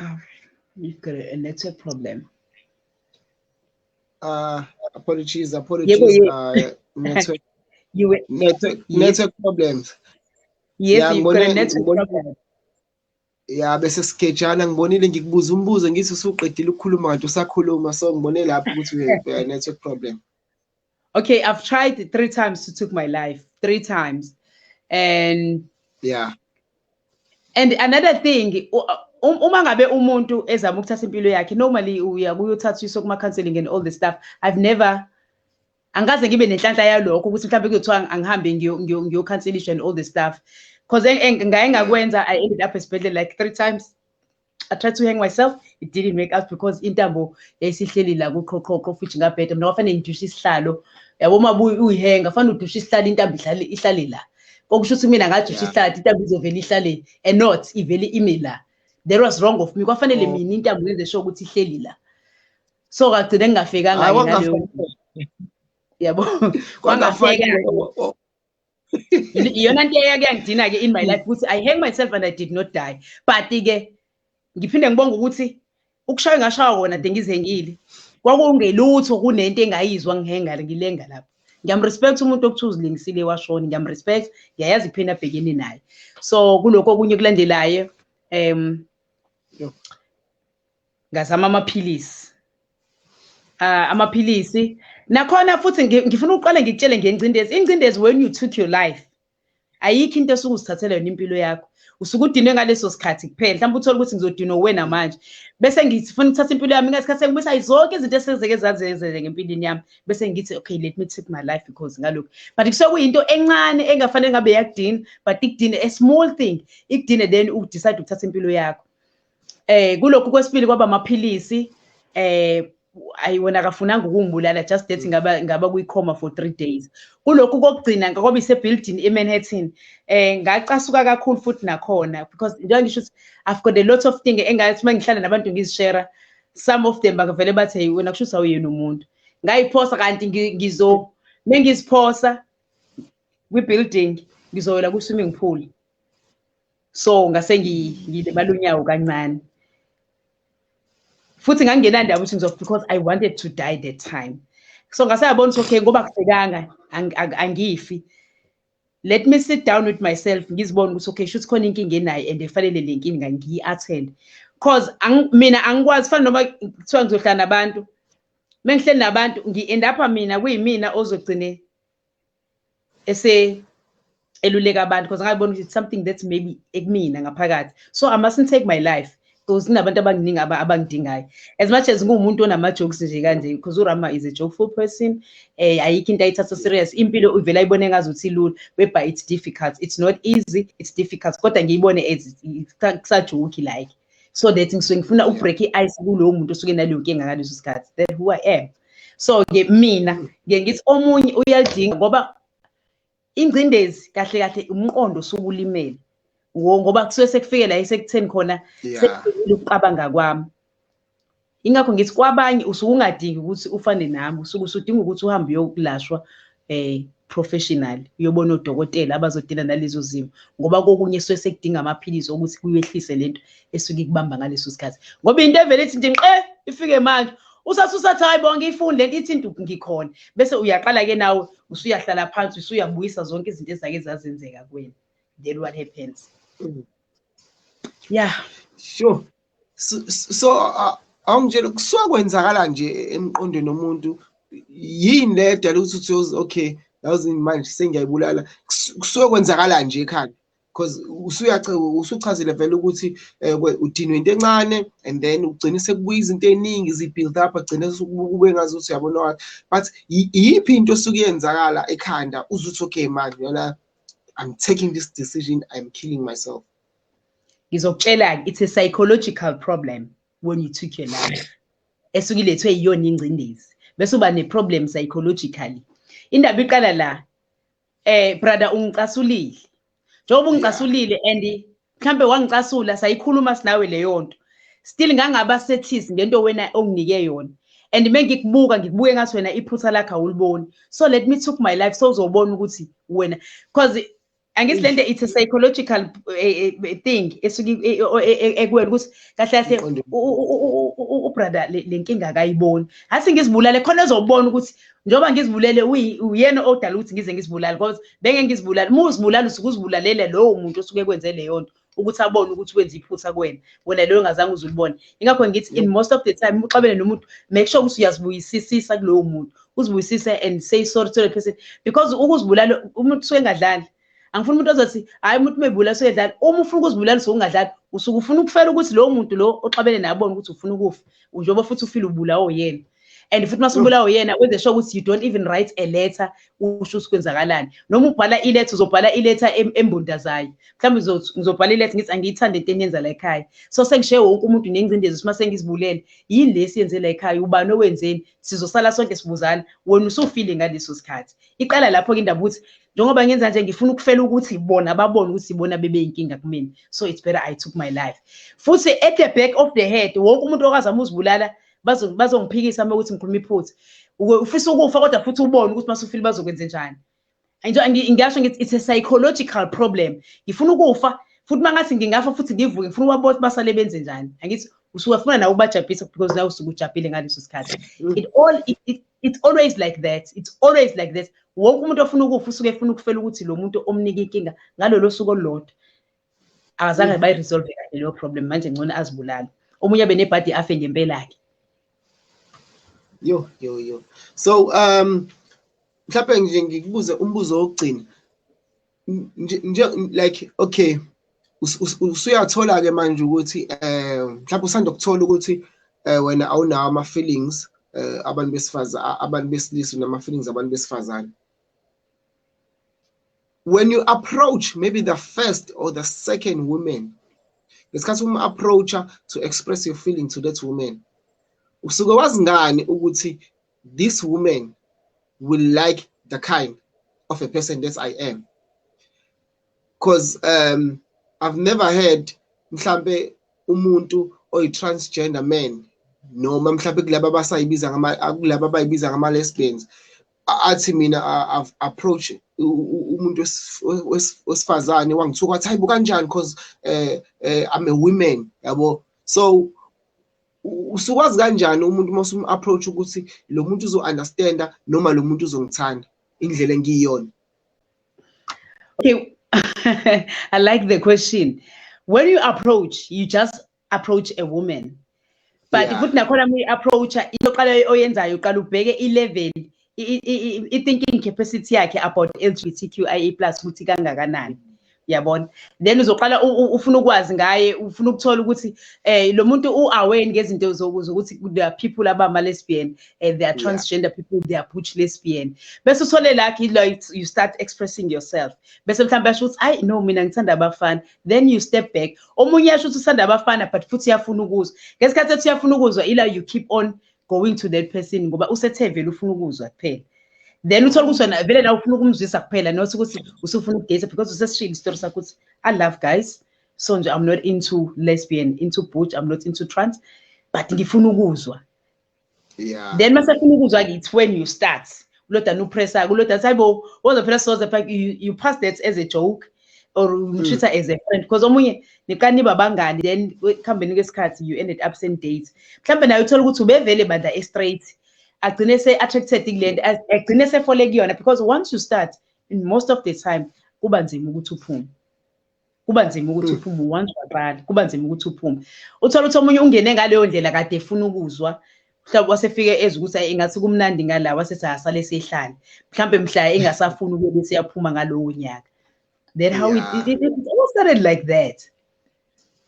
Oh, you've got a, a network problem. Uh, apologies, apologies. Yeah, yeah. Uh, network, you were, network, yes. network problems. Yes, yeah, you've got a network problem. ya bese sigejana ngibonile ngikubuza umbuzo ngithi usuqedile ukukhuluma kanti usakhuluma so ngibone lapho ukuthi we have a network problem Okay, I've tried three times to took my life. Three times. And yeah. And another thing, Um, uma ngabe umuntu ezama ukuthatha impilo yakhe normally uya kuyothathiswa kuma counseling and all the stuff i've never angikaze ngibe nenhlanhla yalokho ukuthi mhlawumbe kuyothiwa angihambe ngiyokhanselishwa and all the stuff because ngaye ngakwenza i ended up esibhedlela like three times I tried to hang myself it didn't work out because intambo yayisihleli la kuqhoqhoqho futhi ngabheda mina kwafanele ngidushe isihlalo yabo uma uyihenga kufanele udushe isihlalo intambo ihlale ihlale la okusho ukuthi mina ngadusha isihlalo intambo izovela ihlale and not ivele ime la there was wrong of me kwafanele oh. mina intambo yenze sho ukuthi ihleli la so kagcine ngingafikanga yabo kwangafika iyona nto eyake yangidina ke in my life ukuthi i hang myself and i did not die but ke ngiphinde ngibonga ukuthi ukushaya ngashawa wona de ngizengile kwakungelutho kunento engayizwa ngihenga ngilenga lapho ngiyamrespect umuntu okuthiwa uzilingisile washoni ngiyamrespect ngiyayazi iphini abhekene naye so kulokho okunye kulandelayo um ngazama amaphilisi uh, amaphilisi nakhona futhi ngifuna uqale ngikutshele ngengcindezi ingcindezi when you took your life ayikho into esuke usithathela yona impilo yakho usuke udinwe ngaleso sikhathi kuphela mhlawumbe uthole ukuthi ngizodinwa uwena manje bese ngifuna ukuthatha impilo yami ngesikhathi sengibisa zonke izinto esezeke zazenzele ngempilweni yami bese ngithi okay let me take my life because ngalokhu but kusuke kuyinto encane engafanele ngabe yakudina but ikudine a small thing ikudine then udecide ukuthatha impilo yakho Eh kulokhu kwesibili kwaba amaphilisi eh ayi wena akafunanga ukungibulala just that mm. ngaba ngaba kuyicoma for 3 days kulokhu kokugcina ngoba ise building eManhattan eh ngacasuka kakhulu futhi nakhona because njengoba ngisho ukuthi I've got a lot of things engathi mangihlala nabantu ngizishare some of them bakavele bathi hey wena kusho usawuyena umuntu ngayiphosa kanti ngizo mengiziphosa kwi building ngizoyela ku swimming pool so ngase ngilibala unyawo kancane futhi ngangingenandaba ukuthi ngizof because i wanted to die that time so ngase yabona ukuthi okay ngoba kusekanga angifi let me sit down with myself ngizibone ukuthi okay shuthi khona inkinga enayo and efanele le nkinga ngiyi-attend cause mina angikwazi fana noma kuthiwa ngizohlala nabantu mengihleli nabantu ngi-end up mina kuyimina ozogcine ese eluleka abantu because ngabona ukuthi something that's maybe ekumina ngaphakathi so i mustn't take my life because kunabantu abanginingi abangidingayo as much as ngiwumuntu onama-jokes nje kanje because urama is a jokeful person um ayikho into ayithatha serious impilo ivele ayibone ngazi ukuthi ilula webha it's difficult it's not easy it's difficult kodwa ngiyibone as kusajoki like so that ngisuke ngifuna ubreak i-ice kulowo muntu osuke naleyo nkinga ngaleso sikhathi that who i am so-ke mina ngiye ngithi omunye uyalidinga ngoba ingcindezi kahle kahle umqondo osuke ulimele ngoba kusuke sekufike la esekutheni khona sekuqabanga kwami ingakho ngithi kwabanye usuke ungadingi ukuthi ufane nami usuke usudinga ukuthi uhambe uyokulashwa eh professional uyobona odokotela abazodila nalezo zimo ngoba kokunye suke sekudinga amaphilisi okuthi kuyehlise lento esuke ikubamba ngaleso sikhathi ngoba into evele ithi nje qe ifike manje usasusathi hayi bonke ifunde lento ithi nduku ngikhona bese uyaqala ke nawe usuyahlala phansi usuyabuyisa zonke izinto ezake zazenzeka kuwena then what happens mm. yeah sure so awungitshela kusuka kwenzakala nje emqondweni omuntu yini le edala ukuthi uthi okay yawuzi manje sengiyayibulala kusuke kwenzakala nje ekhaya because usuchazile vele ukuthi eh, udinwe into encane and then ugcine sekubuya izinto ey'ningi zi-build up agcine kube ngazi ukuthi uyabona wathi but iyiphi into esuke yenzakala ekhanda uzuthi okay manje yona i'm taking this decision i'm killing myself ngizokutshela-ke it's a psychological problem when you took your life esuke ilethwe yiyona ingcindezi bese uba ne-problem psychologically indaba iqala la eh brother ungicasulile njengoba ungicasulile and mhlambe wangicasula sayikhuluma sinawe leyo nto still ngangaba sethis ngento wena onginike yona and mengikubuka ngikubuke ngathi wena iphutha lakhe awuliboni so let me took my life so uzobona ukuthi wena because angithi lento it's a psychological eh, eh, thing esuke eh, ekuwena ukuthi kahle kahle ubrother le nkinga akayiboni hasi ngizibulale khona ezobona ukuthi njengoba ngizibulele uyena odala ukuthi ngize ngizibulale because benge ngizibulale uma uzibulala usuke uzibulalela lowo muntu osuke kwenze leyo nto ukuthi abone ukuthi wenza iphutha kuwena wena leyo ngazange uze ulibone ingakho ngithi in most of the time uxabene nomuntu make sure ukuthi uyazibuyisisisa kulowo muntu uzibuyisise and say sorry to the person because ukuzibulala umuntu usuke engadlali angifuni umuntu ozothi hayi umuntu umebulala usuke edlala uma ufuna ukuzibulala usuke ungadlali usuke ufuna ukufela ukuthi lowo muntu lo oxabene naye abone ukuthi ufuna ukufa njengoba futhi ufile ubulawo yena and futhi uma subulawa uyena wenze sure ukuthi you don't even write a letter usho ukuthi kwenzakalani noma ubhala iletter uzobhala iletter embundazayo mhlawumbe ngizobhala iletter ngithi angiyithande into eniyenza la ekhaya so sengishiye wonke umuntu nengcindezi ukuthi uma sengizibulele yini le siyenze la ekhaya ubani owenzeni sizosala sonke sibuzana wena usufile ngaleso sikhathi iqala lapho-ke indaba ukuthi njengoba ngenza nje ngifuna ukufela ukuthi bona babone ukuthi bona bebeyinkinga kumina so it's better i took my life futhi at the back of the head wonke umuntu okazama uzibulala bazongiphikisa uma ukuthi ngikhuluma iphutha ufisa ukufa kodwa futhi ubone ukuthi masufile bazokwenze njani ngisho ngithi it's a psychological problem ngifuna ukufa futhi uma ngathi ngingafa futhi ngivuke ngifuna ubabona ukuthi basale benze njani angithi usuke funa nawe ubajabhisa because nawe usuke ujabhile ngaleso sikhathi mm. it all it, it, it's always like that it's always like that wonke umuntu ofuna ukufa usuke efuna ukufela ukuthi lo muntu omnika inkinga ngalolo suku olulodwa akazange bayi-resolve kahle leyo problem manje ngcono azibulale omunye abe nebhadi afe ngempela-ke yo yo yo so um mhlawumbe nje ngikubuze umbuzo wokugcina nje like okay usuyathola-ke manje ukuthi um mhlawumbe usanda kuthola ukuthi um wena awunawo ama-feelings um abantu besifazane abantu besilisa nama-feelings abantu besifazane when you approach maybe the first or the second woman ngesikhathi uma approacha to express your feeling to that woman usuke wazi ngani ukuthi this woman will like the kind of a person that I am because um I've never heard mhlambe umuntu oyi transgender man noma mhlambe kulabo abasayibiza ngama kulabo abayibiza ngama lesbians athi mina approach umuntu wesifazane wangithuka wathi hayibo kanjani cause eh, eh I'm a woman yabo so usukwazi kanjani umuntu uma usumu approach ukuthi lo muntu uzo understanda noma lo muntu uzongithanda indlela engiyiyona okay i like the question when you approach you just approach a woman but yeah. futhi nakhona uma uyi-approacha into oqala oyenzayo uqala ubheke i-level i-thinking capacity yakhe about l g b t q i e plus ukuthi kangakanani yabona then uzoqala ufuna ukwazi ngaye ufuna ukuthola ukuthi eh lo muntu u-aware ngezinto zokuthi there are people abama-lesbian and eh, there are transgender yeah. people they are butch lesbian bese uthole lakhe ilo you start expressing yourself bese mhlawumbe asho ukuthi ayi no mina ngithanda abafana then you step back omunye yasho ukuthi usanda abafana but futhi uyafuna ukuzwa ngesikhathi ethi uyafuna ukuzwa ila you keep on going to that person ngoba usethe vele ufuna ukuzwa kuphela then uthole ukuthi wena vele la ufuna ukumzwisa kuphela not ukuthi usufuna ukudate because usesishilo isitori sakho ukuthi i love guys so nje i'm not into lesbian into butch i'm not into trans but ngifuna ukuzwa yeah then masafuna ukuzwa ke it's when you start kulodana upressa kulodana sayi bo woza phela soze pha you, you pass that as a joke or hmm. umtreater mm. as a friend because omunye nikani babangani then kuhambeni kwesikhathi you ended up same date mhlawumbe naye uthola ukuthi ubevele bandla e-straight agcine se-attracted kule nto agcine sefole kuyona because once you start in most of the time kuba nzima ukuthi uphume kuba nzima ukuthi hmm. uphume once waqala kuba nzima ukuthi uphume uthola ukuthi omunye ungene ngaleyo ndlela kade efuna ukuzwa mhlawumbe wasefike ezi ukuthi ingathi kumnandi ngala wasethi asale sihlale mhlawumbe mhla engasafuni ukube siyaphuma ngalowo nyaka then how yeah. it, it, it, it started like that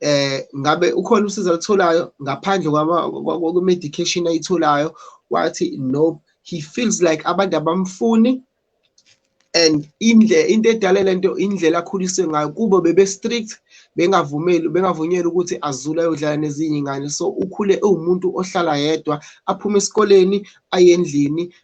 eh ngabe ukhona usizo alitholayo ngaphandle kwama medication ayitholayo wathi no he feels like abantu abamfuni and indle into edale lento indlela akhuliswe ngayo kubo bebe strict bengavumeli bengavunyelwa ukuthi azule ayodlala nezinye ingane so ukhule ewumuntu ohlala yedwa aphume esikoleni aye endlini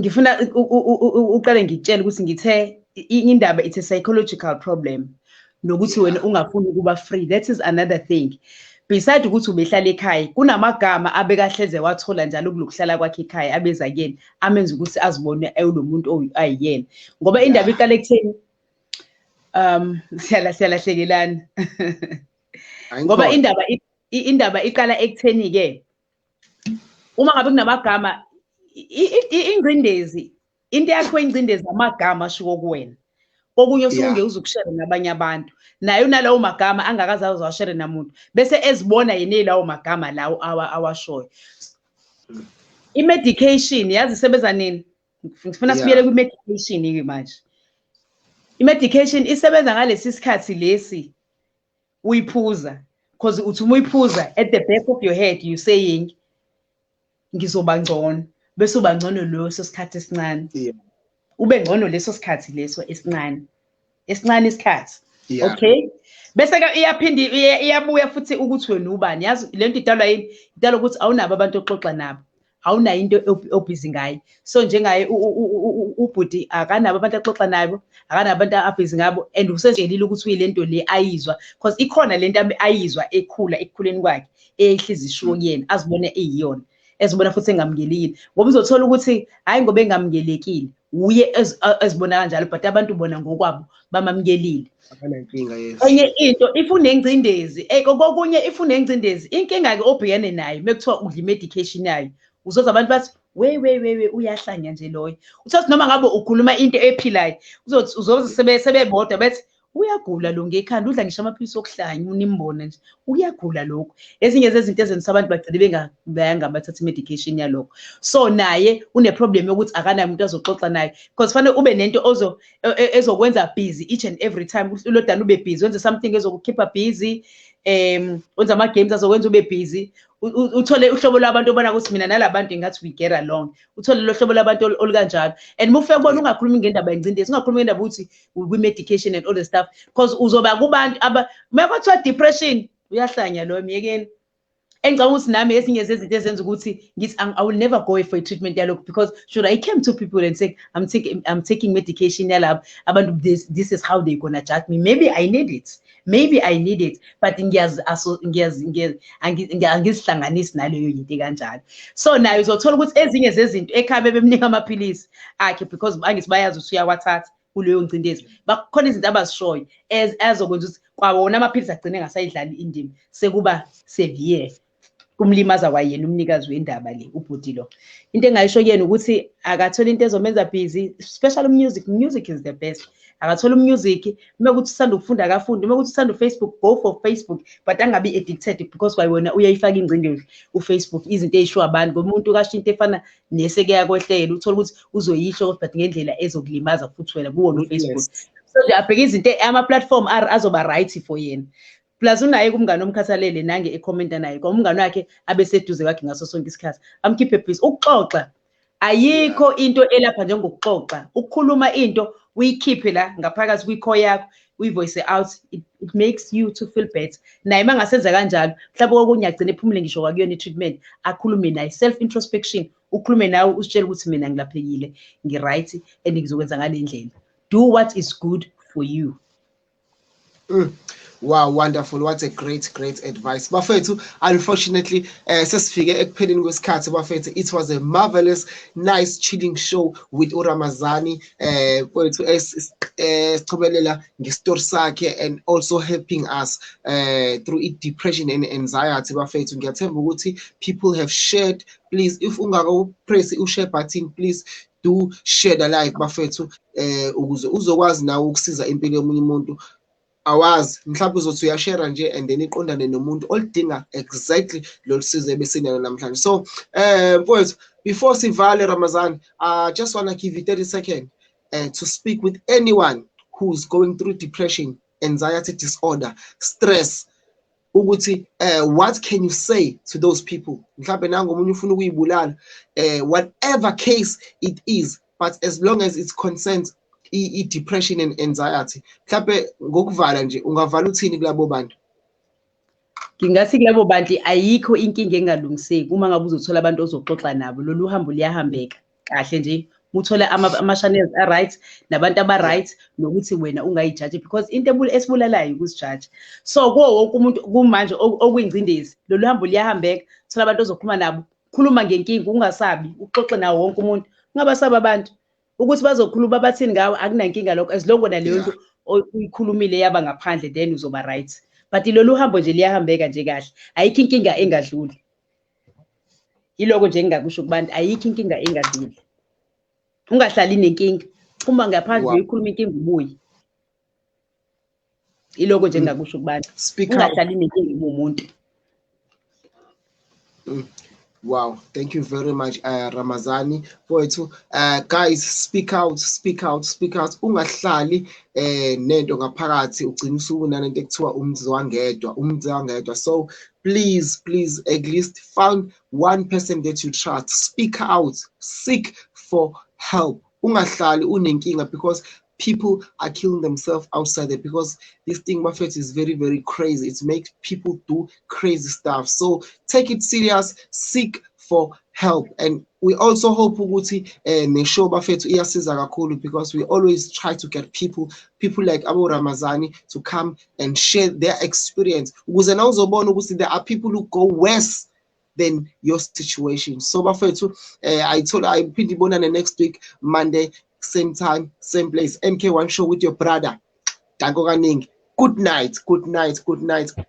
ngifuna uqale ngikutshele ukuthi ngithe indaba it's a psychological problem nokuthi wena ungafuni ukuba free that is another thing beside ukuthi ubehlala ekhaya kunamagama abekahleze wathola njalo kulokuhlala kwakhe ekhaya abeza kuyena amenza ukuthi azibone ewulo muntu ayiyena ngoba indaba iqale ekutheni um hlala hlala hlekelana ngoba indaba indaba iqala ekutheni-ke uma ngabe kunamagama ingcindezi into yakho ingcindezi amagama ashiwo kuwena kokunye osuke ungeke uzukushere nabanye abantu naye unalawo magama angakaze azawashere namuntu bese ezibona yena elawo magama lawo awashoyo i-medication yazi isebenza nini ngifuna sibuyele kwi-medication-ke manje i-medication isebenza ngalesi sikhathi lesi uyiphuza because uthi uma uyiphuza at the back of your head you saying ngizoba ngcono bese uba ngcono leso sikhathi esincane ube ngcono leso sikhathi leso esincane esincane isikhathi okay bese ke iyaphinde iyabuya futhi ukuthi wena ubani yazi lento idalwa yini idalwa ukuthi awunabo abantu oxoxa nabo awunayo into obhizi ngayo so njengaye ubhuti akanabo abantu axoxa nabo akanabo abantu abhizi ngabo and usejelile ukuthi uyile nto le ayizwa because ikhona le nto ayizwa ekhula ekukhuleni kwakhe eyehliza ishiwo kuyena azibone eyiyona ezibona futhi engamukelekile ngoba uzothola ukuthi hhayi ngoba engamukelekile wuye ezibona kanjalo but abantu bona ngokwabo bamamkelile akanankinga yes enye into if unengcindezi eh, kokunye if unengcindezi inkinga ke obhekene nayo mekuthiwa udla imedication yayo uzoza abantu bathi we we we we uyahlanya nje loyo uthothi noma ngabe ukhuluma into ephilayo uzothi uzoze sebe sebebodwa bethi uyagula lo ngekhanda udla ngisho amaphilisi okuhlanya unimbone nje uyagula lokho ezinye zezinto ezenza abantu bagcine bengayanga bathatha imedication yalokho so naye uneproblem yokuthi akanayo umuntu azoxoxa naye because fanele ube nento ozo e, e, ezokwenza busy each and every time ulodana ube busy wenze something ezokukhipha busy um wenze ama-games azokwenza ube busy uthole uhlobo lwabantu obona ukuthi mina nalabantu ingathi we get along uthole lo hlobo lwabantu olukanjalo and uma ufike kubona ungakhulumi ngendaba yengcindezi ungakhulumi ngendaba ukuthi kwi-medication and all the stuff because uzoba kubantu uma kwathiwa depression uyahlanya loyo myekeni engicabanga ukuthi nami ezinye zezinto ezenza ukuthi ngithi i will never go for i-treatment yalokho because should i came to people and say i'm taking, I'm taking medication yalabo abantu this, this is how they gonna judge me maybe i need it maybe i need it but angizihlanganisi naleyo yinto kanjalo so naye uzothola ukuthi ezinye zezinto ekhaya bebemnika amaphilisi akhe because angithi bayazi ukuthi uyawathatha kuleyo ngcindezi bakhona izinto abazishoyo ezokwenza ukuthi kwawona amaphilisi agcine ngasayidlali indima sekuba severe kumlimaza kwayena umnikazi wendaba le ubhuti lo into engayisho kuyena ukuthi akathole into ezomenza busy special music music is the best akathole umusic uma ukuthi usanda ukufunda akafunde uma ukuthi usanda ufacebook go for facebook but angabi addicted because kwayona uyayifaka ingcindezi ufacebook izinto eyishiwo abantu ngomuntu kasho into efana nese kuyakwehlela uthole ukuthi uzoyisho ukuthi but ngendlela ezokulimaza futhi wena kuwona ufacebook so nje abheke izinto ama-platform azoba right for yena plus unaye kumngane omkhathalele nange ekhomenta naye kwa umngane wakhe abeseduze kwakhe ngaso sonke isikhathi amkhiphe busy ukuxoxa ayikho into elapha njengokuxoxa ukukhuluma into uyikhiphe la ngaphakathi kwikho yakho uyivoice out it, it makes you to feel better naye uma ngasenza kanjalo mhlawumbe kokunye agcine ephumule ngisho kwakuyona i-treatment akhulume naye self introspection ukhulume nawe usitshele ukuthi mina ngilaphekile ngi-right and ngizokwenza ngale ndlela do what is good for you mm. Wow, wonderful. What a great, great advice. Bafethu, unfortunately, uh, sesifike ekupheleni kwesikhathi bafethu. It was a marvelous, nice chilling show with uRamazani. eh kwethu esichobelela eh, ngestory sakhe and also helping us uh, through it depression and anxiety bafethu ngiyathemba ukuthi people have shared please if ungako press u share button please do share the like bafethu eh ukuze uzokwazi nawe ukusiza impilo yomunye umuntu awazi mhlawumbe uzothi uyashera nje and then iqondane nomuntu olidinga exactly lolu sizo ebesinalo namhlanje so um mfowethu before sivale ramazan i just want to give you 30 seconds uh, eh, to speak with anyone who's going through depression anxiety disorder stress ukuthi uh, what can you say to those people mhlawumbe nango omunye ufuna ukuyibulala uh, whatever case it is but as long as it concerns i-depression and anxiety mhlawumbe ngokuvala nje ungavala uthini kulabo bantu ngingathi kulabo bantu ayikho inkinga engalungiseki uma ngabe uzothola abantu ozoxoxa nabo lolu hambo luyahambeka kahle nje uthole ama-channels a-right nabantu aba-right nokuthi wena ungayijaji because into esibulalayo ukusijaji so kuwo wonke umuntu kumanje okuyingcindezi lolu hambo liyahambeka thola abantu ozokhuluma nabo khuluma ngenkinga ungasabi uxoxe nawo wonke umuntu ungabasaba abantu ukuthi bazokhuluma bathini ngawe akunankinga lokho as long wena leyo nto uyikhulumile yaba ngaphandle then uzoba right but lolu hambo nje liyahambeka nje kahle ayikho inkinga engadluli yiloko nje engingakusho kubantu ayikho inkinga engazile ungahlali nenkinga uma ngaphandle uyikhuluma inkinga ubuye yiloko nje engingakusho kubantu ungahlali nenkinga ubumuntu mm. Wow, thank you very much uh, Ramazani mfowethu. Uh, guys speak out, speak out, speak out. Ungahlali eh nento ngaphakathi ugcina usuku nanento ekuthiwa umzwangedwa, umzwangedwa. So please please at least find one person that you trust speak out seek for help ungahlali unenkinga because people are killing themselves outside there because this thing buffet is very very crazy it makes people do crazy stuff so take it serious seek for help and we also hope ukuthi eh neshow bafethu iyasiza kakhulu because we always try to get people people like Abu Ramazani to come and share their experience ukuze na uzobona ukuthi there are people who go worse than your situation so bafethu eh ayithola ayiphinde ibonane next week monday same time same place mk1 show with your brother danko kaningi good night good night good night good